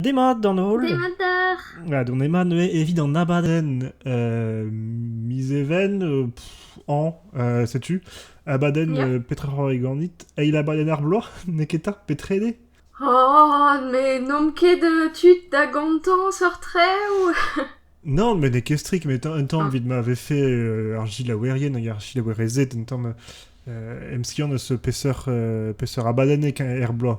Demat d'an holl. Demat oc'h Ah, on ema neuze evit an abadenn euh, mizeven euh, pff, an, euh, setu, abadenn Ya. euh, petrehor e ganit. Eil abadenn ar bloaz, neketa, petrede? Oh, mais n'omp ket euh, tud da gantañ sort-traoù Non, mais n'es ket strict, mais un temps, Ah, vit m'avait fait euh, ar gilaouerien hag ar gilaouerezed, un temps, euh, emskiant eus peseurt euh, peseurt abadennek er bloaz.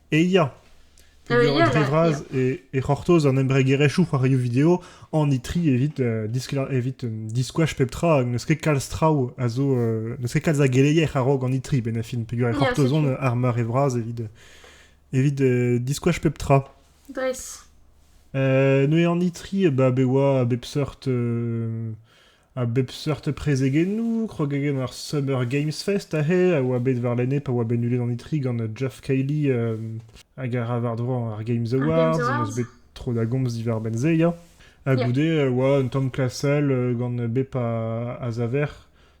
E ya! Peogwir dre vras e c'hortoz an embregerezhioù c'hoarioù video an itri evit evit diskouez pep tra hag n'eus ket kalz traoù a zo n'eus ket kalz a geleier a-raok an itri benn-fin peogwir e c'hortoz on ar meur e vras evit evit diskouez pep tra. Nice. Neuze an itri, bah, be oa a bep seurt A bep seurt prezegennoù, krogagenn ar Summer Games Fest aze a oa bet warlene pa oa bet nulet an itri gant Jeff Cayley euh, hag a ra war-dro ar Games Awards. On eus bet tro da gomz diwar-benn se, ya. Ha goude a oa un tamm klasel euh, gant bep a, a zaver.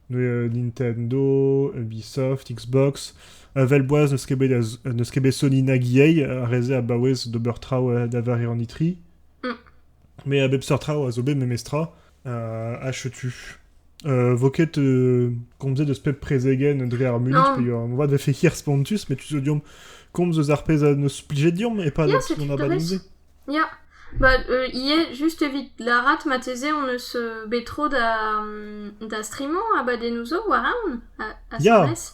Euh, Nintendo, Ubisoft, Xbox. Vel boaz n'eus ket bet, n'eus ket bet Sony nag EA a reze a baouez d'ober traoù da war an itri. Mm. Mais a bep seurt traoù a zo bet memestra. Ah, chetu. Euh, vo ket euh, komzet eus pep prezegenn dre ar mulid, Non, peogwir moarvat vefe hir spontus, mais tu zo deomp komz eus ar pezh a neus plijet deomp et pas ya, ce qu'on a balisé. Ya. Bah, euh, hier, juste evit larat, mateze on eus euh, bet tro da, mm, da streamo abadennoù zo war aon, a, a Ya, Ceres.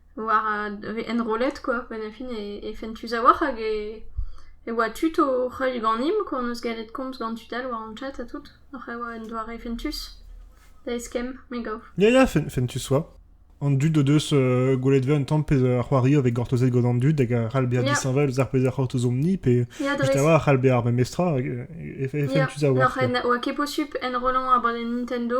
war vez enrollet quoi benefit e fentus a-walc'h hag e oa tud oc'h heuilh ganimp quoi hon eus gallet komz gant tud all war hon chat ha tout oc'h e oa un doare fentus da eskemm me gav. Ya ya fentus oa. An dud o deus gwelet 'vez un tamm pezh ar c'hoari a vez gortozet gant an dud hag a c'hall bezañ disheñvel eus ar pezh a c'hortoz omp-ni pe just a-walc'h a c'hall bezañ ar memestra hag e fentus a-walc'h. N'oa ket posupl enrollañ abadenn Nintendo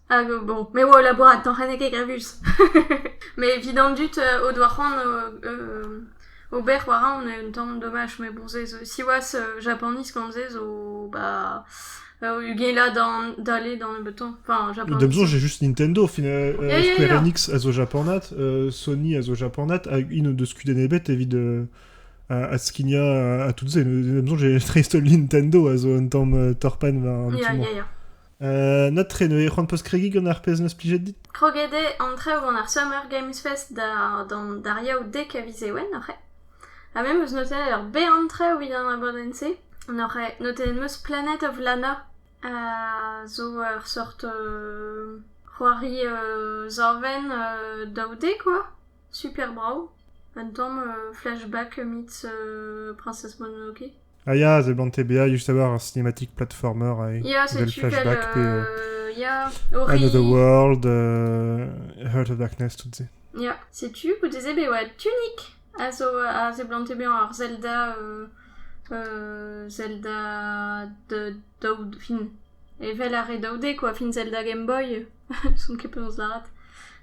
Hag bon, me oa o labourat atañ reneg egravuz. Met evid an dud o doa c'hoant ober war aon un tamm domaj, mais bon se zo... siwazh Japaniz gant se zo ba ugelañ da- dale da nebeutañ, enfin Japaniz. Da besoñ, j'ai juste Nintendo, au final, Ya, ya, Square ya. Enix a zo japanat, Sony a zo japanat, hag int o deus kudenn ebet evit adskignañ ha- ha tout se. Da besoñ, j'ai Nintendo a zo un tamm torpenn war an Ya, tu-mañ. ya, ya. na treno eo c'hoant 'peus kregiñ gant ar pezh 'neus plijet dit? Kroget eo an traoù gant ar Summer Games Fest d'ar Yaou Dek a viz Ewen oc'h ha me 'meus notet ur bern traoù evit an abadenn-se. Oc'h notet 'meus Planet of Lana zo ur seurt c'hoari savenn daou de quoi, super brav, un tamm flashback meets Princess Mononoke. Ah ya, a zeblante bezañ just a-walc'h ar cinematic platformer eh, evel Flashback pe euh, Another World, euh, Heart of Darkness, tout ça. Ya, setu goude-se bet oa Tunic a zo a zeblante bezañ ar Zelda euh, euh, Zelda de daoud fin evel ar re daoude quoi fin Zelda Game Boy son ket penaos lâret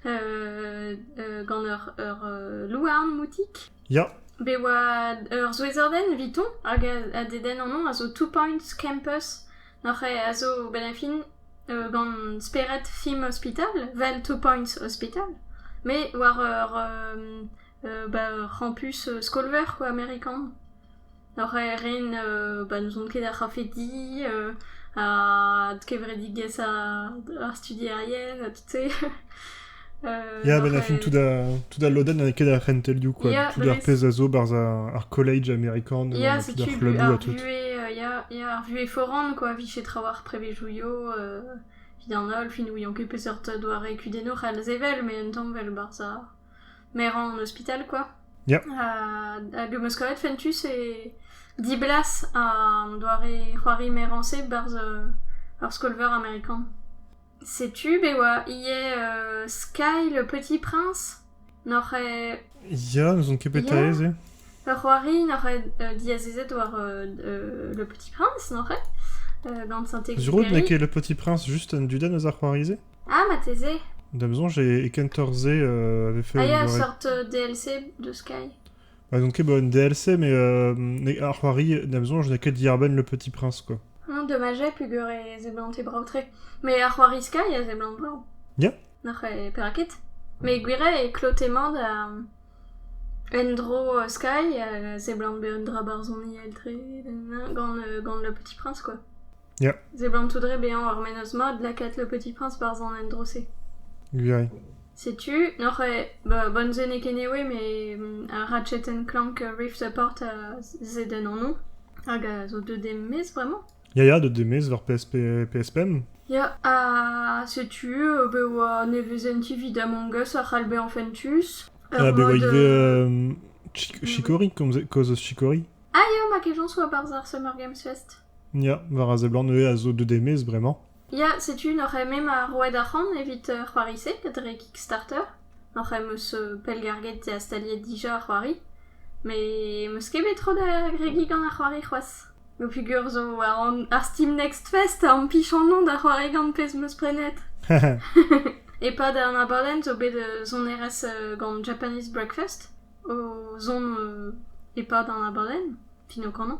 euh, euh, gant ur ur euh, louarn moutik Ya. Bet e oa ur souezhadenn evito hag a dedenn anezhañ a zo Two Points Campus hoc'h a zo benn ar fin gant spered film ospital 'vel Two Points Hospital met war ur ur campus skol-veur quoi amerikan. Oc'h ren ba n'ouzon ket ar c'hafedi, adkevredigezhañ ar studierien ha tout-se. Ya, a-benn ar fin tout a- tout al lodenn n'eo ket ar c'hentelioù quoi, Ya, tout ar pezh a zo barzh ar college amerikan, Ya, tout ar setu c'hlabou ha ar tout. vuhez, ya, ya, ar vuhez foran quoi, vije traoù ar prevezioù, evit an holl, fin n'ouion ket peseurt doare kudennoù c'hall sevel, mais un tamm 'vel barzh ar... Merañ an ospital, quoi. Ya. Hag em eus kavet fentus e diblas an doare c'hoari merañs-se barzh ur skol-veur amerikan. Setu be oa ivez euh, Sky le Petit Prince. N'oc'h eo Ya, n'ouzon ket petra eo se. ur c'hoari n'oc'h eo euh, diazezet war euh, euh, le Petit Prince, n'oc'h eo euh, gant Saint-Exupéry. Sur out n'eo ket Le Petit Prince juste un dudenn eus ar c'hoari-se? Ah, marteze. Da'm soñj e kentoc'h-se euh, a vefe Ah un ya, eur- seurt euh, DLC de Sky. Bah, donc ket bah, une DLC, mais euh, mais ar c'hoari, da'm soñj n'a que Diarben le Petit Prince, quoi. Hein, dommage, j'avais pu gueuler Zeblant et Brautray. Mais à C'hoari Sky, il y a Zeblant Brao. Yeah. Nac'h e Perakit. Mais Gwiré e klotemant da Endro euh, Sky, euh, Zeblant be un dra barzoni eltre, gant, euh, gant le Petit Prince, quoi. Seblant tout re bezañ ar menoz-mat lakaat Le Petit Prince barzh an endro-se. Gwiriañ. Setu, n'oc'h eo ba Bonzennek anyway, met ar Ratchet & Clank Rift Apart a zed en anv, hag a zo deuet e-maez bremañ. Ya ya, deuet e-maez war PS PS Pemp. Ya, ha setu be oa nevezenti evit Among Us a c'hall bezañ fentus. Ha be oa ivez Chicory, komzet, kaoz eus Chicory. Ah ya, ma kejañs oa barzh ar Summer Games Fest. Ya, war a seblant ivez a zo deut e-maez bremañ. Ya, setu noc'h-eme ma roet arc'hant evit uh, c'hoari-se dre Kickstarter. Noc'h-eme eus uh, pellgarget ha staliet dija ar c'hoari. Met 'm eus ket bet tro da agregiñ gant ar c'hoari c'hoazh. Peogwir zo war an- ar Steam Next Fest a ampichanon da c'hoari gant pezh 'm eus prenet. E-pad an abadenn zo bet uh, sonerezh uh, gant Japanese Breakfast o zont uh, e-pad an abadenn, fin o kanañ.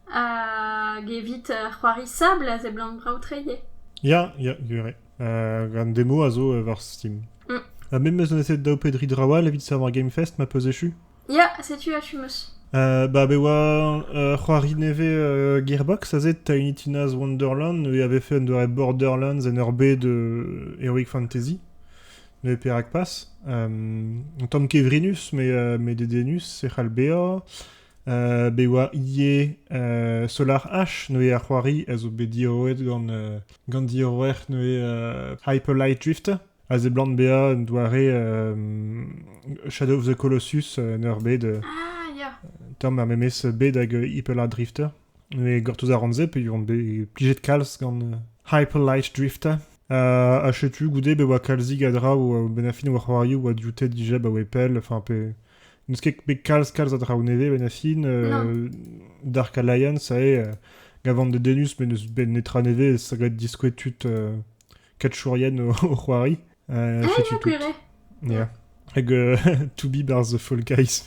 Hag evit c'hoari sabl a seblant brav-treiñ eo. Ya, ya, gwir eo. An demo a zo war Steam. Mm. Ha me 'meus neset daou pe dri draoù all evit savoir Game Fest, ma peus echu? Ya, setu achu 'meus. ba be oa ur c'hoari nevez uh, Gearbox aze Tiny Tina's Wonderland e avait fait un doare Borderlands en ur B de Heroic Fantasy ne perak pas um, un tamm kevrinus mais, uh, mais dedenus e c'hall bezañ bet e oa ivez SolarH neuze ar c'hoari a zo bet diorroet gant gant diorroer neuze Hyperlight Drifter a seblant bezañ un doare Shadow of the Colossus en ur bed tomm ar memes bed hag Hyperlight Drifter neuze gortoz a ran se peogwir on bet plijet kalz gant Hyperlight Drifter ha setu goude bet e oa kalzig a draoù bennafi o c'hoarioù a dioute dija ba wepell enfin pe N'eus ket bet kalz-kalz a draoù nevez benn a fin. Dark Alliance a eo gavan dedennus, met n'eus bet netra nevez. Ça doit être diskouez tud katchourien o, o c'hoari. Euh, fais-tu tout. Yeah. Hag uh, To Be Bar's the Fall Guys.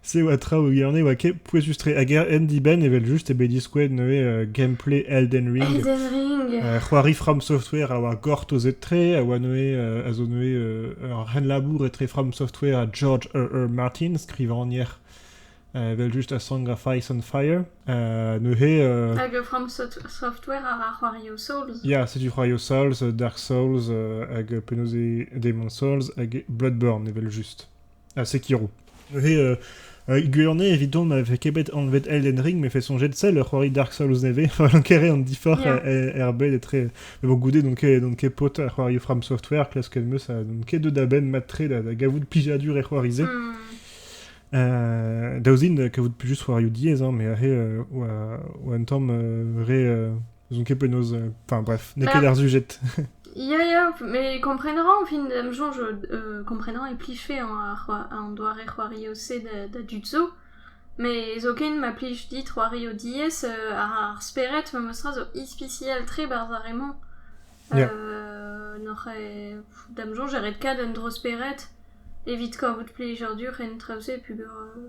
C'est oa traoù, il y en a oa Pouezus-tre. Hag er hendibenn, evel-just, eo bet diskouezet neuze uh, gameplay Elden Ring. Elden Ring. Uh, c'hoari From Software a oa gortozet-tre, a oa neuze, uh, a zo neuze uh, ur renlabour etre From Software ha George R.R. Martin, skrivagner evel-just a Song of Ice and Fire. Uh, neuze... Uh, Hag From Software a ra c'hoario Souls. Ya, yeah, setu c'hoario Souls, Dark Souls, uh, hag penaos eo Demon Souls, hag Bloodborne, evel-just. Ha Sekiro. Neuze, euh, euh, gwirionez, evidon, ma vefe ket bet anvet Elden Ring, me fait songer sell ur c'hoari Dark Souls nevez, fallan kere an diforc'h Yeah. er, er bed etre... Mais bon, goude, n'on ket, n'on ket pote ar c'hoari From Software, klasket meus, ha n'on ket deut da benn matre da, da gavout plijadur e c'hoari-se. Hmm. Euh, daouzin, euh, kavout plus juste c'hoarioù diaes, hein, mais ahe, euh, oa, oa un tamm euh, re... euh, N'ouzon ket penaos... euh, Enfin bref, n'eo ket Bah, ar sujet. ya, ya, mais comprendrán, en fin de jour, je, euh, comprendrán est pliché en, ar- en doare c'hoario se da, da jutsu, mais zoken ma plij dit c'hoario diez euh, ar ar speret ma meustra zo ispicial tre barz ar re-mañ. Yeah. Euh, n'oc'h e- da'm soñj e ret kat un dro speret evit kavout plijadur en traoù-se, pugur euh,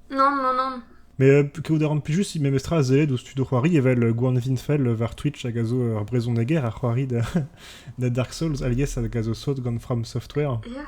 Nann, nann, nann. Mais kaout a ran plijus memestra a sellet ouzh tud o c'hoari evel Gwan Winfell war Twitch hag a zo ur brezhoneger a c'hoari da, da Dark Souls alies hag a zo sot gant From Software. Ya.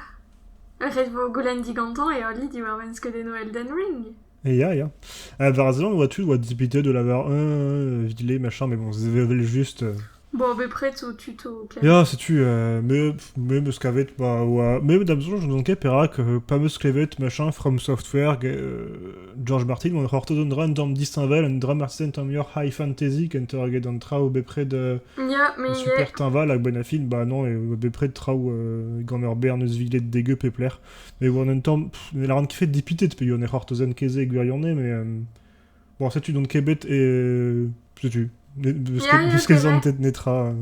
Ret vo goulenn digantañ e hollidi diwar-benn skeudennoù Elden Ring. Ya, ya. Uh, war a zeland, oa tu oa dibitet de l'avoir un, euh, vilé, machin, mais bon, c'est juste... euh, Bon, bepred zo tuto o klemm. Ya, setu, euh, me, me meus kavet, bah, oa, me da'm soñj n'on ket perak, euh, pa meus klevet machin From Software, ge- euh, George Martin, oa c'hortoz un dra un tamm disheñvel, un dra marteze un tamm muioc'h high fantasy kentoc'h eget an traoù bepred euh, Ya, mais en il super teñval hag ben affin, bah non, et bepred traoù euh, gant ur bern eus viled degeu pep lec'h. Mais oan un tamm, pff, ne lâran ket fet dipitet, peogwir ne c'hortozen ket se gwirionez, mais euh, Bon, setu donc Kebet et... euh, setu. Ne- N'eus ket- n'eus ket zantet netra. euh.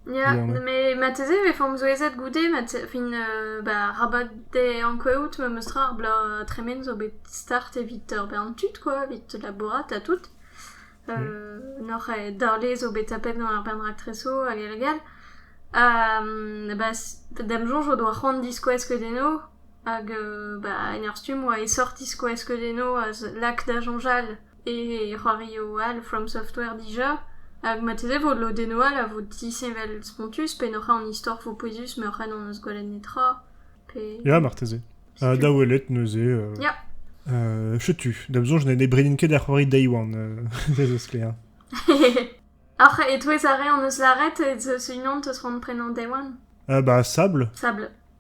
Ja, Voilà. mais mateze e form zouezet goude, mat- fin euh, ba, rabat de ankouaout ma meus tra ar bloaz tremen zo bet start evit ur bern tud quoi, evit labourat ha tout. Euh, Nor e darlez zo bet tapet gant ar bern raktreso hag hag hag all. Ha, mm, ba, s- d'am soñj o doa c'hoant diskouez skeudenno Hag ba en ur stumm 'oa e sort diskouez skeudennoù a lak da soñjal e c'hoarioù all from software dija hag marteze 'vo lodennoù all a vo disheñvel spontus pe n'hoc'h an istor 'vo pouezus ma hoc'h an hon eus gwelet netra pe... Ya marteze. Ha da welet neuze euh... Ya. Euh setu, da'm soñj ne bredin ket da c'hoari day one, euh ez eus sklaer. Oc'h e-touez ar re hon eus lâret ez eus unan 'teus c'hoant prenañ day one? Euh bah sable. Sable.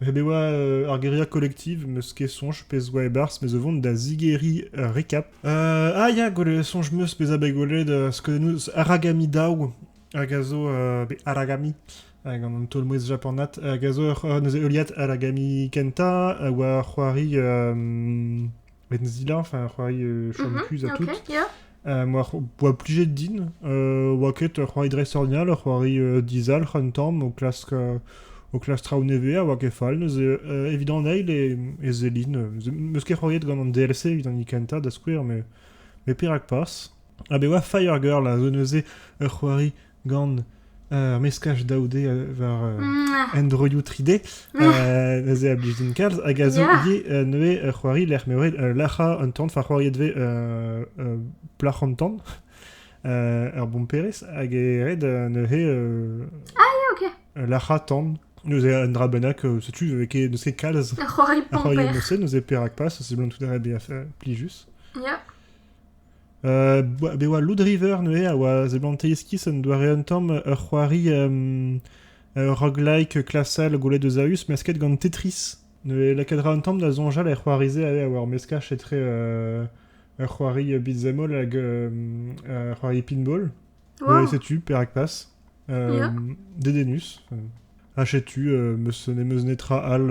Ret e oa euh, ar guerrilla collective, meus ket soñj pezh zo e-barzh, mes o vont da zigeriñ ur rekap. Euh, ah ya, gwele soñj meus bezañ bet gwelet euh, skeudennoù Aragami Dao, hag a zo... euh, be Aragami, hag an taol-mouezh japanat, hag a zo ur- euh, neuze heuliad Aragami kentañ, a oa c'hoari... euh, met zila, enfin, c'hoari euh, chom mhm, kuz à tout. Euh, Moi, boa plijet din. Euh, oa ket ur c'hoari dresornial, ur c'hoari euh, dizal, c'an tamm, o klask, euh, o klask traoù nevez a oa ket fall. Neuze, euh, evit an eil e, e Zéline. Euh, meus ket c'hoariet gant an DLC evit an kenta, da skouer, mais, mais perak pas. Ah ben oa Firegirl a zo neuze ur c'hoari gant ar meskaj daou D war Android 3D, neuze a blij din kalz, hag a zo ivez neuze c'hoari lec'h m'eo ret lac'hañ un tan, enfin c'hoariet vez plac'h an tan, ur bomperez, hag e ret neuze lac'hañ tan. Neuze un dra bennak, setu, n'eus ket kalz a c'hoariet morse, neuze perak pas, seblant tout a ret bezañ plijus. Bet oa Loud River neuze a oa seblantet iskis un doare un tamm ur c'hoari ur roguelike klasel gwelet eus a-us mesket gant Tetris. Neuze lakaet ra un tamm da soñjal er c'hoari-se a oa ur meskaj etre ur c'hoari beat'em all hag ur c'hoari pinball. Neuze setu, perak pas. dedennus. Ha setu, meus, n'em eus netra all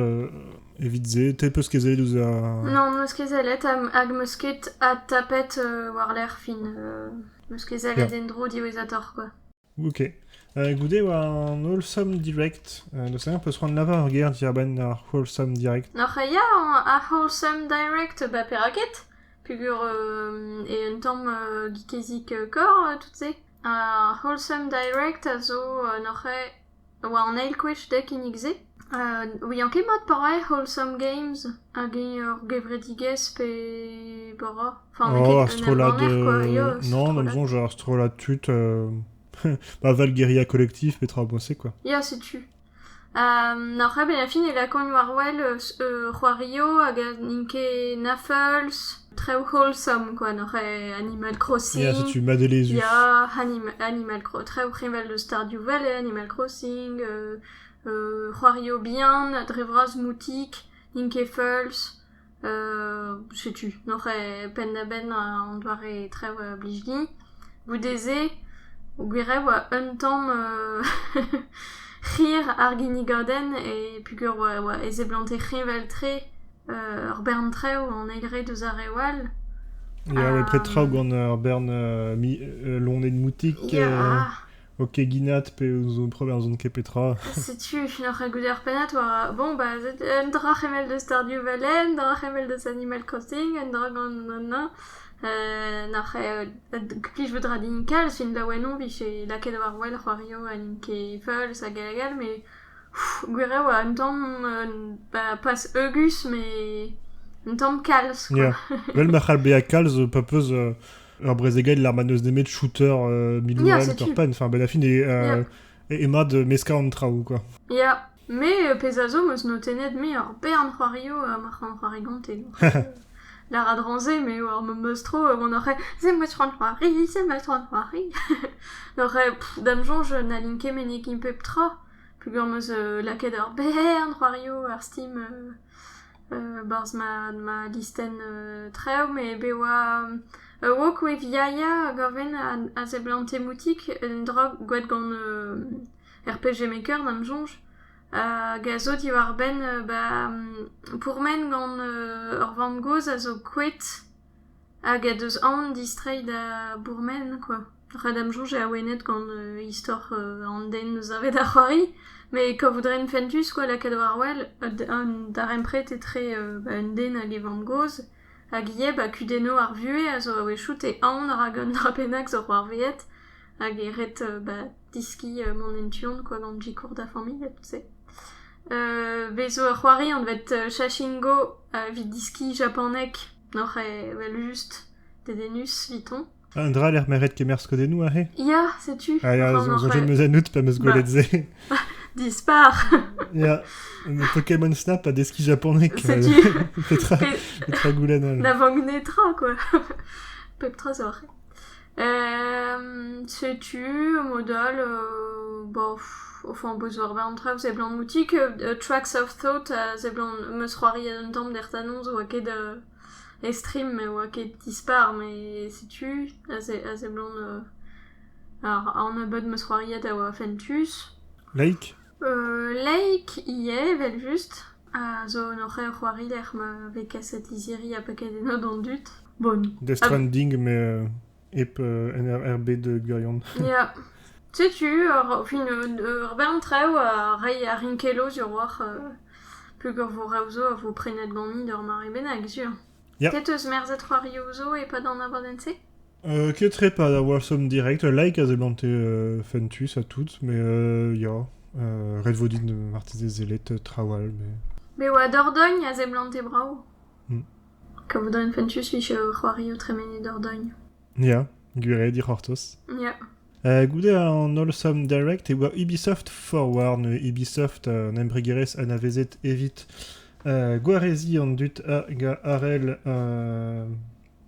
evit se. Te peus kezellet ouzh a... Non, meus kezellet hag meus ket adtapet war-lerc'h fin. meus kezellet en-dro diwezhatoc'h, quoi. Ok. Uh, goude war an Wholesome Direct, uh, da sevel peus c'hoant lavar ur ger diabenn ar Wholesome Direct. Noc'h ya, ar Wholesome Direct, ba perak ket? Pugur e un tamm uh, geekezik kor, tout se. Ar Wholesome Direct a zo neuze war an eil gwech dek kinnig-se. ouian ket mat pa rae Wholesome Games hag eñ ur gevredigezh pe bara. Enfin n'eo ket un embanner quoi, ya, un strollad. Non, da'm soñj ur strollad tud, ba 'val Guerilla Collectif, petra boñse quoi. Ya, setu. Oc'h abezañ fin e lakaont war-wel c'hoario hag n'int ket nafeuls, traoù wholesome kwa, n'oc'h Animal Crossing. Ya, setu madelezhus. Ya, Animal Crossing, traoù heñvel eus starioù well eo Animal Crossing, c'hoario bihan dre vras moutik, n'int ket feuls. setu n'oc'h ket penn-da-benn an doare trev a blij din. Goude-se, gwir eo 'oa un tamm hir ar ginnigadenn e peogwir 'oa e seblante kreñval-tre ur bern trev an eil re deus ar re all. Ya, 'oa pep tra gant ur bern loened moutik. O keginat pe o preverzon ket petra. Setu e fin oc'h goude ar pennad war... Bon, ba, un dra c'hemel deus Stardew Valley, un dra c'hemel deus Animal Crossing, un dra gant an na. Euh, nac'h plij bout ra din kalz, fin laouen on vije lakaet war wel c'hoario ha n'int ket feuls hag hag hag, mais gwir eo un tamm ba, pas heugus, mais un tamm kalz, quoi. Yeah. Vel ma c'hall bezañ kalz pa peus... euh, ur brezegailh ma n'eus nemet shooter euh, middle round ur pen. Enfin, ben la fin est, euh, est, mad meskañ an traoù, quoi. Ya, mais euh, pezh a zo, meus notennet me ur bern c'hoario euh, mar c'han c'hoari gonte. La radranzé, mais war me meus tro, euh, on aurait c'est moi trant c'hoari, c'est moi trant c'hoari. N'aurait dam jonge n'alinke menek in pep tra. Pugur meus euh, laket ur bern c'hoario ar Steam euh, Barzh ma listenn traoù met be oa ur rock'n'wave yaya hag a ven a seblante moutik un dra gwraet gant RPG Maker da'm soñj hag a zo diwar-benn ba pourmen gant ur vamm-gozh a zo kouet. Hag he deus aon distreiñ da bourmen kwa. Rak da'm soñj eo awenet gant istor an den savet ar c'hoari. Met kavout a ren fentus kwa lakaat war-wel an darempred etre un den hag e vamm-gozh. Hag Yeb ha kudennoù ar vuhez a zo a-wechoù, te aon rak un dra bennak zo c'hoarvezet. Hag e ret ba... Deskiñ mont en tu-hont kwa gant Gikour da familh ha tout se. Bez zo ur c'hoari anvet Shashingo evit deskiñ japaneg n'oc'h evel-just dedennus evitañ. Un dra lec'h m'eret kemer skodennoù aze? Ya, setu. Ah ya, soñjet 'm eus ennout pa 'm eus gwelet se. Dispar! Ya, Pokémon Snap a deskiñ japoneg. Setu. Petra goulenn holl? Na vank netra, quoi. Pep tra zo ar c'hre. Setu mod all enfin beus ur bern tra seblant outi tracks of thought seblant meus c'hoari un tamm d'ertanon zo oa ket estrim me oa ket dispar met setu a seblant ar nebeud meus c'hoariet a oa fentus. Laik? Laik ivez evel-just a zo un c'h- c'hoarider ma vez kaset lizhiri ha paket enno d'an dud. Bon. Deus tra-n din met hep en er- er bed gwirion. Ya. Setu ur fin ur bern traoù a reiñ a rin kelo sur oc'h peogwir vo reoù zo a vo prenet ganin d'ur mare bennak sur. Ya. Te 'teus merzet c'hoarioù zo e-pad an abadenn-se? Ketrepad a-walc'h somp direct. Ul laik a seblante fentus ha tout, met ya. ret vo din marteze sellet traoù all. Me oa Dordogne a seblante brav. Kavout a rin fentus vije c'hoario tremened Dordogne. Ya, gwir eo dic'hortoz. Ya. goude an holl som direct e oa Ubisoft Forward, Ubisoft an embregerezh anavezet evit gwareziñ an dud hag arell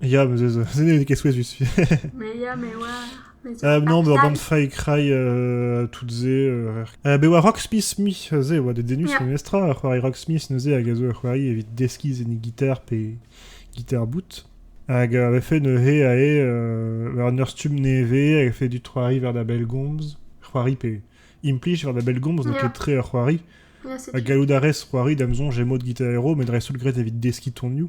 Ya, bah, ça n'était qu'est souhaitus. Mais ya, mais ouais. Mais c'est Euh, non, pas bah, band nice. fai crai euh, toutes ze. Euh, euh, be oa Rocksmith mi ze oa de denus Yeah. memestra a c'hoari Rocksmith neuze hag a zo ur c'hoari evit deskiñ ze ni gitar pe gitar boot. Hag euh, a fait neuze a eo euh, un ur stumm nevez hag a fait du c'hoari war da bell gomz. C'hoari pe implij war da bell gomz n'eo Yeah. ket tre ur c'hoari. Yeah, c'est A gallout a rez c'hoari da'm soñj e mod gitarero met dreist-holl gret evit deskiñ tonioù.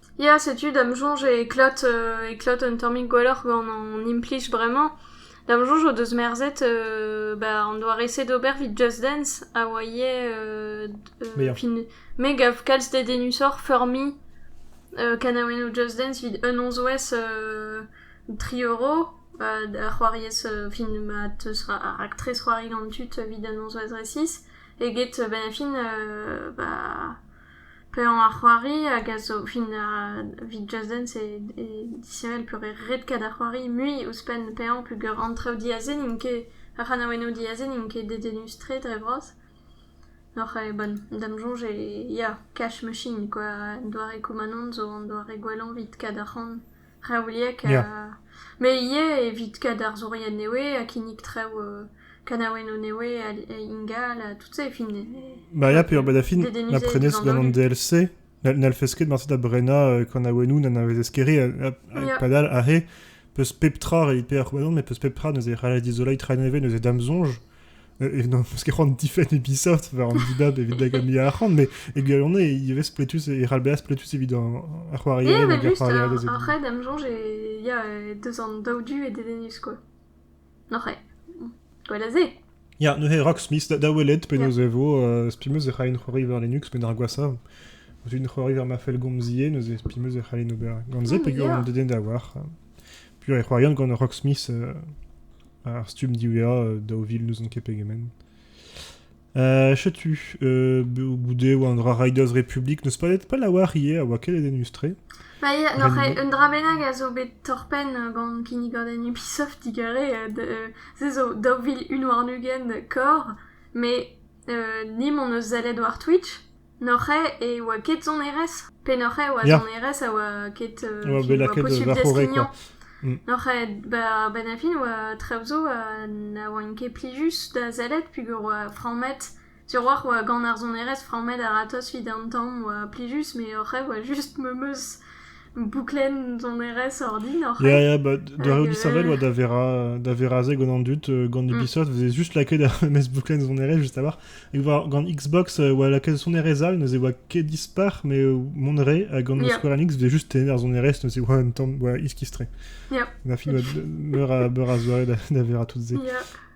Ya, setu da'm soñj e klot e klot un tammig gwelloc'h gant hon implij bremañ. Da'm soñj o deus merzet ba an doare-se d'ober 'vit Just Dance a oa ivez fin- me gav kalz dedennusoc'h feurmiñ kanaouennoù Just Dance 'vit un nozvezh tri euro da c'hoariez fin ma teus raktres c'hoari gant tud 'vit an nozvezh resis eget benn ar fin ba Paeañ ar c'hoari hag a zo fin evit Just Dance eo disheñvel peogwir red-kat ar c'hoari mui ouzhpenn paeañ peogwir an traoù diaze n'int ket, ar c'hanaouennoù diaze n'int ket dedennus-tre dre vras. Oc'h eo bon, da'm soñj eo ya, cash machine quoi, un doare Komanon zo un doare gwellañ evit kat arc'hant. Reoliek ha... Me ivez evit kad arzourien nevez ha kinnig traoù kanaouennoù nevez ingal ha tout se e fin... Maria peogwir da fin na prenez ket gant an DLC n'hellfes ket marse da brenañ kanaouennoù n'anavezez ket re padal aze 'peus pep tra evit pevar c'hloazon met 'peus pep tra neuze c'hall dizoleiñ tra nevez neuze da'm soñj. e non, parce que c'hoant difenn Ubisoft war an dibab evit da gommi arc'hant, mais e gwirionez, e vez pletus, e ralbeas pletus evit ar c'hoarier hag ar c'hoarier des Après, Dame Jonge, il y a deux ans d'Audu et Dedenus, quoi. Noc'h eo. Gwelazé. Ja, ne he Rocksmith da welet penaos e vo, euh, spimeus e c'hain c'hoari war Linux, met ar gwasa, un c'hoari war ma fel gomzie, neuze spimeus e c'hain ober gant ze, pe gwir an deden da war. Puis e c'hoarian gant Rocksmith euh, Ar stumm diwezhañ, daou vil n'ouzon ket pegement. Euh, Chetu, euh, goude oa un dra Riders Republic, n'eus pas, pas la war ivez, a oa ket denustre. Ba ia, n'oc'h un dra bennak a zo bet torpenn gant kinnigadenn Ubisoft digare, euh, se zo daou vil un warn-ugent kor, mais euh, ni m'on eus sellet war Twitch, N'oc'h e oa ket sonerez pe n'oc'h e oa Ya. sonerez a oa ket euh, Oa bet qui oa lakaet posubl war horrek, deskiñ quoi. N'oc'h e ba ba da fin oa traoù zo ha na oant ket plijus da sellet peogwir oa frammet sur oc'h oa gant ar sonerez frammet a-ratozh evit an tamm oa plijus, met oc'h e oa just memes Bouklenn sonerezh ordinoc'h. Ya, ya, bah, da heul disheñvel oa da vera, da vera se gant an dud, euh, gant Mm. Ubisoft, faisait juste laquer da mes bouclettes sonerezh juste avant. Et voir gant Xbox, euh, oa laquelle sonerezh all, ne se oa ket dispar, mais euh, monré, ha gant Yeah. Square Enix, faisait juste tener sonerezh, ne se oa un temps, oa iskistre. Yeah. On a fini oa meur a, meur a soirée da, da vera toutes se. Yeah.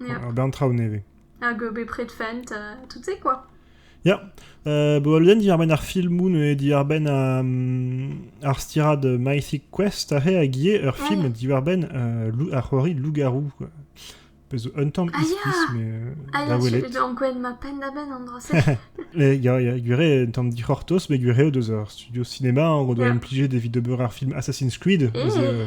Hag an traoù nevez. Hag bepred fent, tout-se quoi. Ya, euh, bo alouden diarbenn ar filmoù neuze diarbenn euh, ar stirad Mythic Quest ahe a gie ur film diwarbenn euh, ar c'hoari Lougarou. Pezo un tamm ah, iskis, mais ah, da welet. Ah, ya, gwen ma penn da benn an dra-se. Ya, ya, gwire un tamm dic'hortos, bet gwire o deus ar studio cinéma, en ro doa implijet evit ober ar film Assassin's Creed. Eh.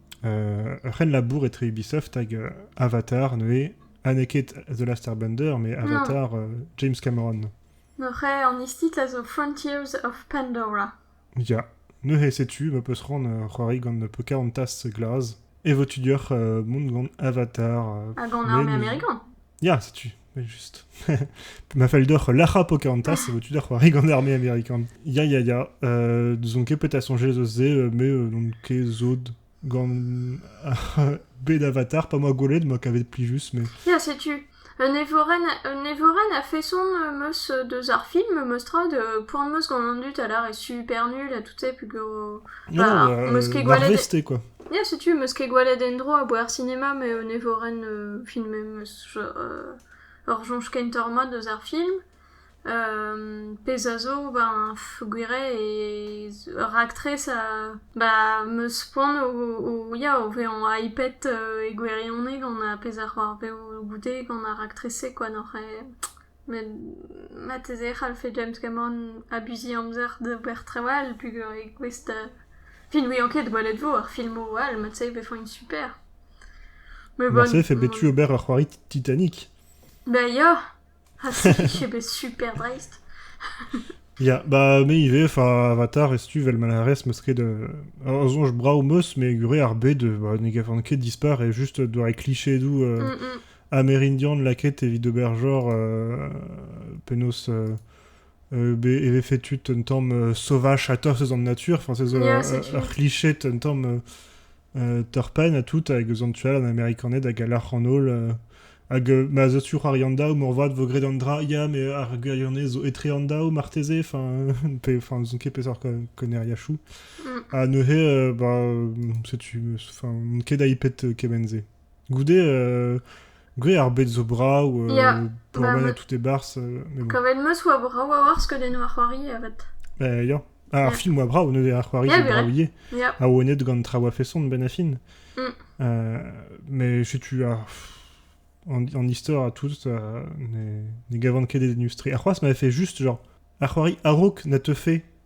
ur c'henlabour etre Ubisoft hag Avatar neuze, ha n'eo ket The Last Airbender, mais Avatar James Cameron. Neuze an istitl a zo Frontiers of Pandora. Ya, neuze setu ma peus ran ur c'hoari gant Pocahontas glas, e vo tu dioc'h mont gant Avatar. Hag gant arme amerikan Ya, setu. Evel-just. Ma fallu deoc'h lac'hañ Pocahontas, e vo tu da c'hoari gant arme amerikan. Ya, ya, ya. Euh, n'ouzon ket peut-être soñjet eus se, euh, mais euh, n'on ket zod gant bed avatar, pas moi goled, moi kavet plus mais... Tiens, sais-tu, un Evoren, un Evoren a fait son meus de Zarfilm, Mestrod, point de meus gant an dut, alors est super nul, à toutes ces plus gros... Non, Marvel quoi. Yeah, sais-tu, meus ket gwaled endro a boer cinéma, mais un Evoren filmé meus Ur soñj kentoc'h mat eus ar film, pezh a zo ben peogwir eo ur raktres ba am eus poan o ya o vezañ hypet e gwirionez gant ar pezh a c'hoarveo goude gant ar raktres-se kwa n'oc'h Met marteze e c'hallfe James Cameron abuziñ amzer d'ober trawal p'gwir eo gouest da... Fin n'ouian ket gwelet vo ar filmoù all, mat-se e vefont super. Me bon... Marteze e fait bet tu ober ur c'hoari Titanic. Bah ya! Ha si, eo bet super dreist. Ya, bah me ivez, enfin, Avatar, et si tu vel Malares, me serait de... Un songe brav meus, mais gure ar bet de... Bah ne gavant ket dispar, et juste doare cliché et doux... euh, Mm, mm. An Erindian lakaet evit ober genre penaos e vefe tu un tamm sauvage a-tost eus an natur, enfin c'est ur c'hliche un tamm turpin ha tout hag eus an tu all an Amerikaned hag a lâr an holl hag ma zo tu c'hoari an daou moarvat vo graet an dra ya met ar gwirionez zo etre an daou marteze enfin enfin n'ouzon ket peseurt konneriachoù ha neuze bah setu ket hypet kement-se Goude, euh, goude ar bed zo brav, euh, Ya, pourmennen à bah, tout ébarce, euh, mais bon. quand même, meus oa brav a oar skeudennoù ar c'hoari, avat. Bah, ya. Ah, ar Ya, film oa brav, ne ar c'hoari ya, zo vrai. braouillet, Ya, a oa net gant traoù a-feson, Ben Affleck. mm. Euh, mais setu ar... En, en histoire à tous, euh, ne, ne gavan ket d'industrie. Ar c'hoaz m'avait fait juste, genre, ar c'hoari Arok n'a te fait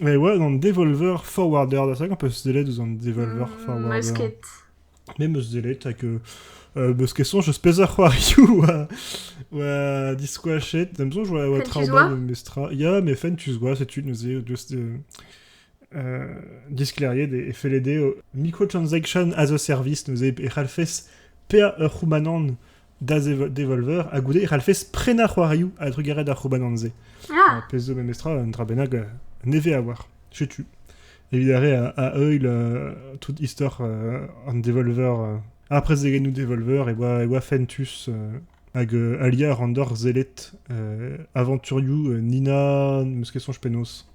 E oa an Devolver Forwarder, da hag am peus sellet ouzh an Devolver Forwarder? Meus ket. Me meus sellet, hag euh, beus ket soñj eus peseurt c'hoarioù oa, oa diskoachet. D'am soñj oa oa traoù mat memestra. Ya, mais Fentus Gwa, setu neuze, just euh, euh, diskleriet e, e felle dezho microtransaction as a service neuze e c'hallfes peañ ur c'houmanant da devolver ha goude e c'hallfes prenañ c'hoarioù a-drugarez ar c'houbanant-se. Ar pezh zo memestra un dra bennak nevez a oar. Setu. Evit ar re a, heuil euh, tout istor euh, an devolver. Euh, ar prezegennoù devolver e oa, e oa fentus hag aliañ a ran d'hor sellet aventurioù Nina, n'eus ket soñj penaos.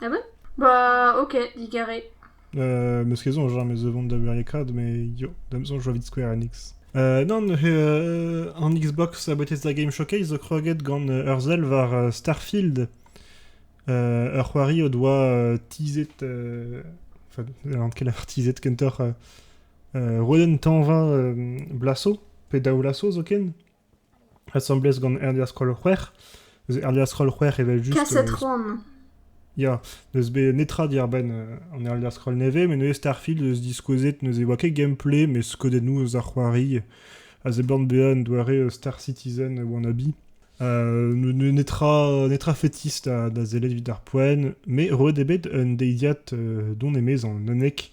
Ah bon Bah ok, digarez. Euh, meus ket soñj meus vont da beurekaat, mais yo, da'm soñj oa evit Square Enix. Euh, non, euh, an Xbox a Bethesda Game Showcase zo kroget gant euh, ur sell war euh, Starfield, euh, ur c'hoari o doa euh, teaset, euh, enfin, n'en ket lavar teaset kentoc'h, euh, euh, Roden Tanva euh, Blasso, pe Daou Lasso zoken, asambles gant Erdia Skol-C'hwec'h. Neuze Erdia Skol-C'hwec'h evel-just... Kaset c'hoant. Ya, n'eus bet netra diàr-benn an Erdia Skol nevez, met neuze Starfield eus diskouezet neuze e oa ket gameplay, met skeudennoù eus ar c'hoari a seblant bezañ un doare Star Citizen wannabe. netra, netra fetis da, da sellet evit ar poent, met roet eo bet un deiziad don, emezañ, un unnek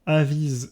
a viz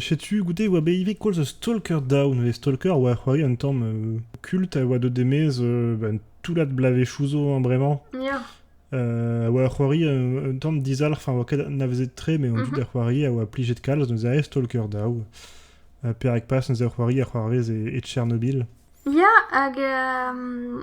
Setu goude e oa bet ivez koulz Stalker Down. E Stalker a oa c'hoari un tamm euh, kult a oa deuet e-maez euh, bah, un toullad blavezhioù zo hein, bremañ. Ya. Euh, a oa c'hoari un, un tamm dizalc'h, enfin, a oa ket anavezet tre, mais on joue Mhm. da c'hoari, a oa plijet kalz, neuze ae Stalker Down. Uh, Perak pas, neuze a c'hoari a c'hoarvez e, e Tchernobyl. Ya, hag euh,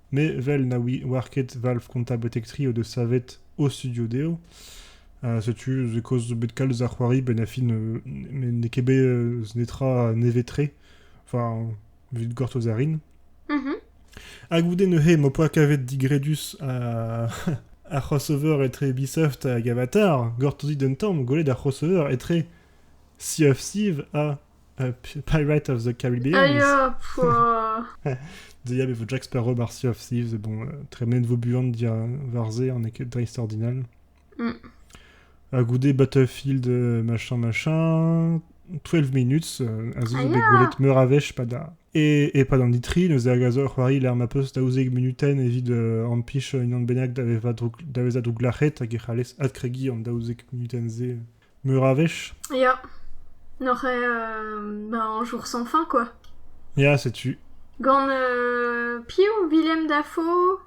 Me, 'vel na ouier ket valv kontañ betek tri o deus savet o studio dezho, setu eus kaoz zo bet kalz a c'hoari benn ar fin met n'eo ket bet netra nevez-tre, enfin evit gortoz a rin. Hag goude neuze m'ho poa kavet digredus ar crossover etre Ubisoft hag Avatar, gortozit un tamm, gwelet ar crossover etre Sea of Thieves ha Uh, Pirate of the Caribbean. Ah ya, pouah. Dia e vo Jack Sparrow mar Sea of Thieves, et bon, euh, tremen vo buan dia var se, an eo ket dreist ordinal. Mm. A goude Battlefield euh, machin machin, 12 minutes, euh, a zo Ah bet ya. gwelet meur a wech pa da... Et, et pas d'an ditri, neuze a gazo c'hoari ler ma peus daouzek minuten evit euh, ampich unan bennak da veza droug- da veza douglac'het hag e c'hallez adkregi an daouzek minuten ze. Meur a wech ? Ya, n'oc'h ket ma añjour sans fin, quoi. Ya, setu. Gant euh, piv Willem Dafoe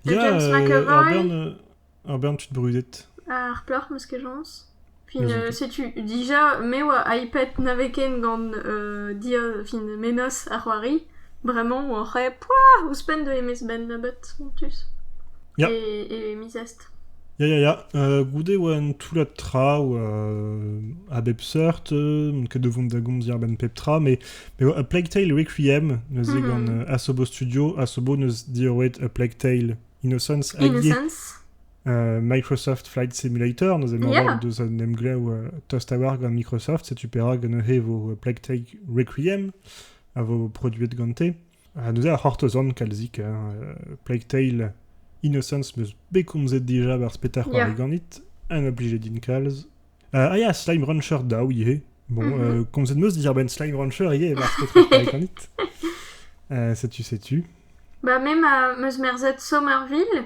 da Ya, James euh, McAvoy ur bern, euh, ur bern tud brudet. ar plac'h, m'eus ket soñs. Fin, Eus euh, setu, dija, me oa iPad nave ken gant euh, dir, fin Menos ar c'hoari. Vraiment, oc'h eo poah ouzhpenn de Emmys Ben Labot, en plus. Ya. Et, et Mrs. Ya, ya, ya. Euh, goude e oa un toullad traoù euh, a bep seurt. euh, n'on ket o vont da gomziñ a-benn pep tra, mais, mais A Plague Tale Requiem, neuze gant Mhm. euh, Asobo Studio. Asobo neus diorroet A Plague Tale Innocence hag ivez Innocence. euh, Microsoft Flight Simulator, neuze mañval o Yeah. deus un emglev euh, tost a-walc'h gant Microsoft, setu perak un e vo A Plague Tale Requiem, a vo produet gante. Ha neuze a c'hortozan kalzik. Plague Tale Innocence 'm eus bet komzet dija barzh Peter Pan Yeah. ganit. Un oblijet din kalz. Uh, ah, yeah, Slime Rancher daou ivez. Bon, Mhm. euh, komzet 'm eus diàr-benn Slime Rancher ivez barzh Peter Pan ganit. Euh, setu, setu. Bah, même à Meusmerzet Somerville,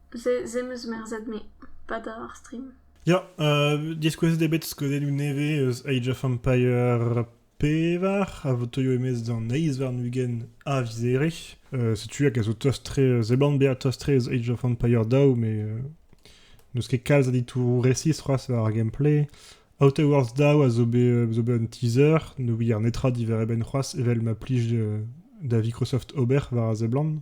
Ze em eus merzet-me, padañ ar stream. Ya, euh, diskouezet eo bet skeudennoù nevez eus Age of Empire pevar a votoio emez d'an eizh warn-ugent a vizere. Euh, setu hag a zo tost-tre, euh, zeban bezañ tost-tre eus Age of Empire daou, mais euh, n'eus ket kalz a ditouroù resis c'hoazh war ar gameplay. Outer Worlds daou a zo bet, euh, zo bet un teaser, ne ouier netra diwar e benn c'hoazh, evel ma plij euh, da Microsoft ober war a seblant.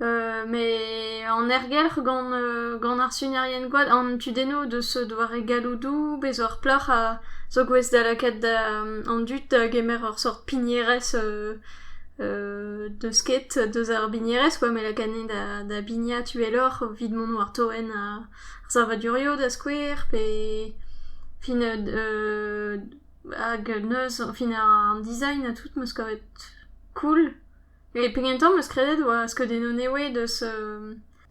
Met an ergelc'h gant ar sunerien-gwad, an tudennoù deus doare galloudoù pe zo ar plac'h a zo gouest da lakaat an dud da gemer ur sort pignerezh deus ket deus ar bignerezh kwa met lakaat anezhi da bignat uheloc'h evit mont war toenn ar savadurioù da skouer pe fin hag neuz fin an design ha tout 'm eus kavet cool. E pegen tamm eus kredet oa skeudennoù newe deus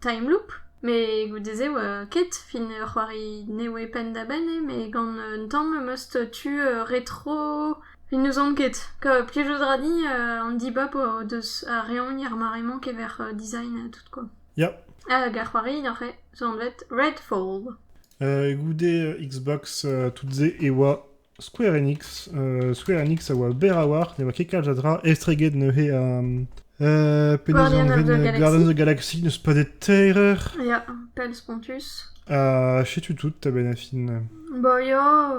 Time Loop, met goude-se oa ket fin ur c'hoari newe penn-da-benn eo met gant un tamm em eus tu retro evit n'ouzon ket. Plijout ra din an dibab o deus ar reoñi ar mare-mañ kever design tout quoi. Ya. Hag ar c'hoari neuze zo anvet Redfall. Goude Xbox toute-se e oa Square Enix. Euh, Square Enix a oa berr a-walc'h, ne oa ket kalz a dra estreget neuze um, euh, Guardian of the Galaxy. Guardians of the Galaxy n'eus pas des terreurs. Ya, pell spontus. Ha chetu tout ta benafin. Bo ya,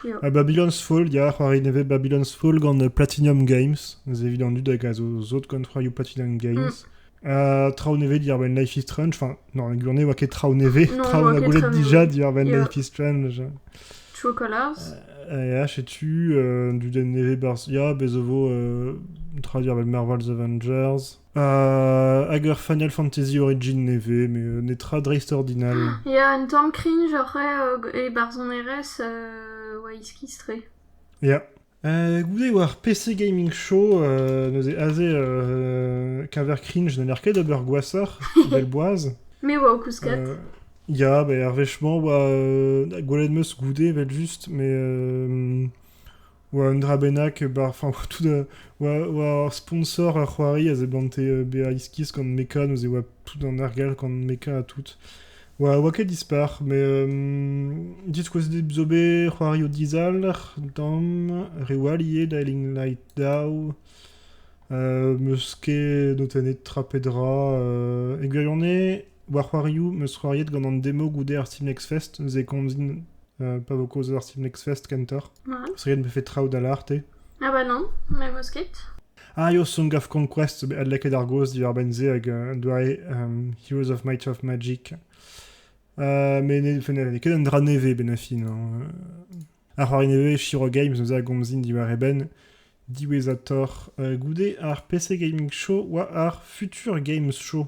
ya. Ha Babylon's Fall, ya, c'hoari nevez Babylon's Fall gant Platinum Games. Ez evident dut hag a zo zot gant fraioù Platinum Games. Mm. traoù nevez diwar-benn Life is Strange. Enfin, non, la journée, ne oa ket traoù nevez. traoù a goulet déjà diwar-benn Life is Strange. True Colors euh, tu euh, du nevez Barzia, Bezovo, euh, traduire avec Marvel The Avengers, euh, Ager Final Fantasy Origin nevez, mais euh, Netra Dreist Ordinal. Il y a un Tom Cringe, genre, et Barzon RS, euh, Whisky Stray. Yeah. goude war PC Gaming Show, neuze aze keñver cringe, n'en ket d'ober gwashoc'h, belle boaz. Me oa o kouskat. Ya, bah, er wechement oa gwelet meus goude vel just, mais oa un dra bennak, bar, enfin, oa tout da, oa, oa ur sponsor ur c'hoari a zeblante bezañ iskis gant mecha, neuze oa tout an argal gant mecha ha tout. Oa, oa ket dispar, met euh, diskouezet zo bet c'hoarioù dizalc'h damm, reoù all ivez, Dialing Light Daw, euh, 'meus ket notennet tra pe dra. euh, e gwirionez, war c'hoarioù, 'meus c'hoariet gant an demo goude ar Steam Next Fest, ze komzin euh, pa vo kaoz eus ar Steam Next Fest kentoc'h. Ouais. Parce que me fait traoù da l'arte. Ah bah non, mais m'eus ket. Arios on gav Conquest bet adlakaet ar gaoz diwar-benn se hag un doare Heroes of Might of Magic. met n'eo ket un dra nevez benn a fin. Ar c'hoari nevez Shiro Games zo a gomzin diwar e benn diwezhatoc'h goude ar PC Gaming Show oa ar Future Games Show.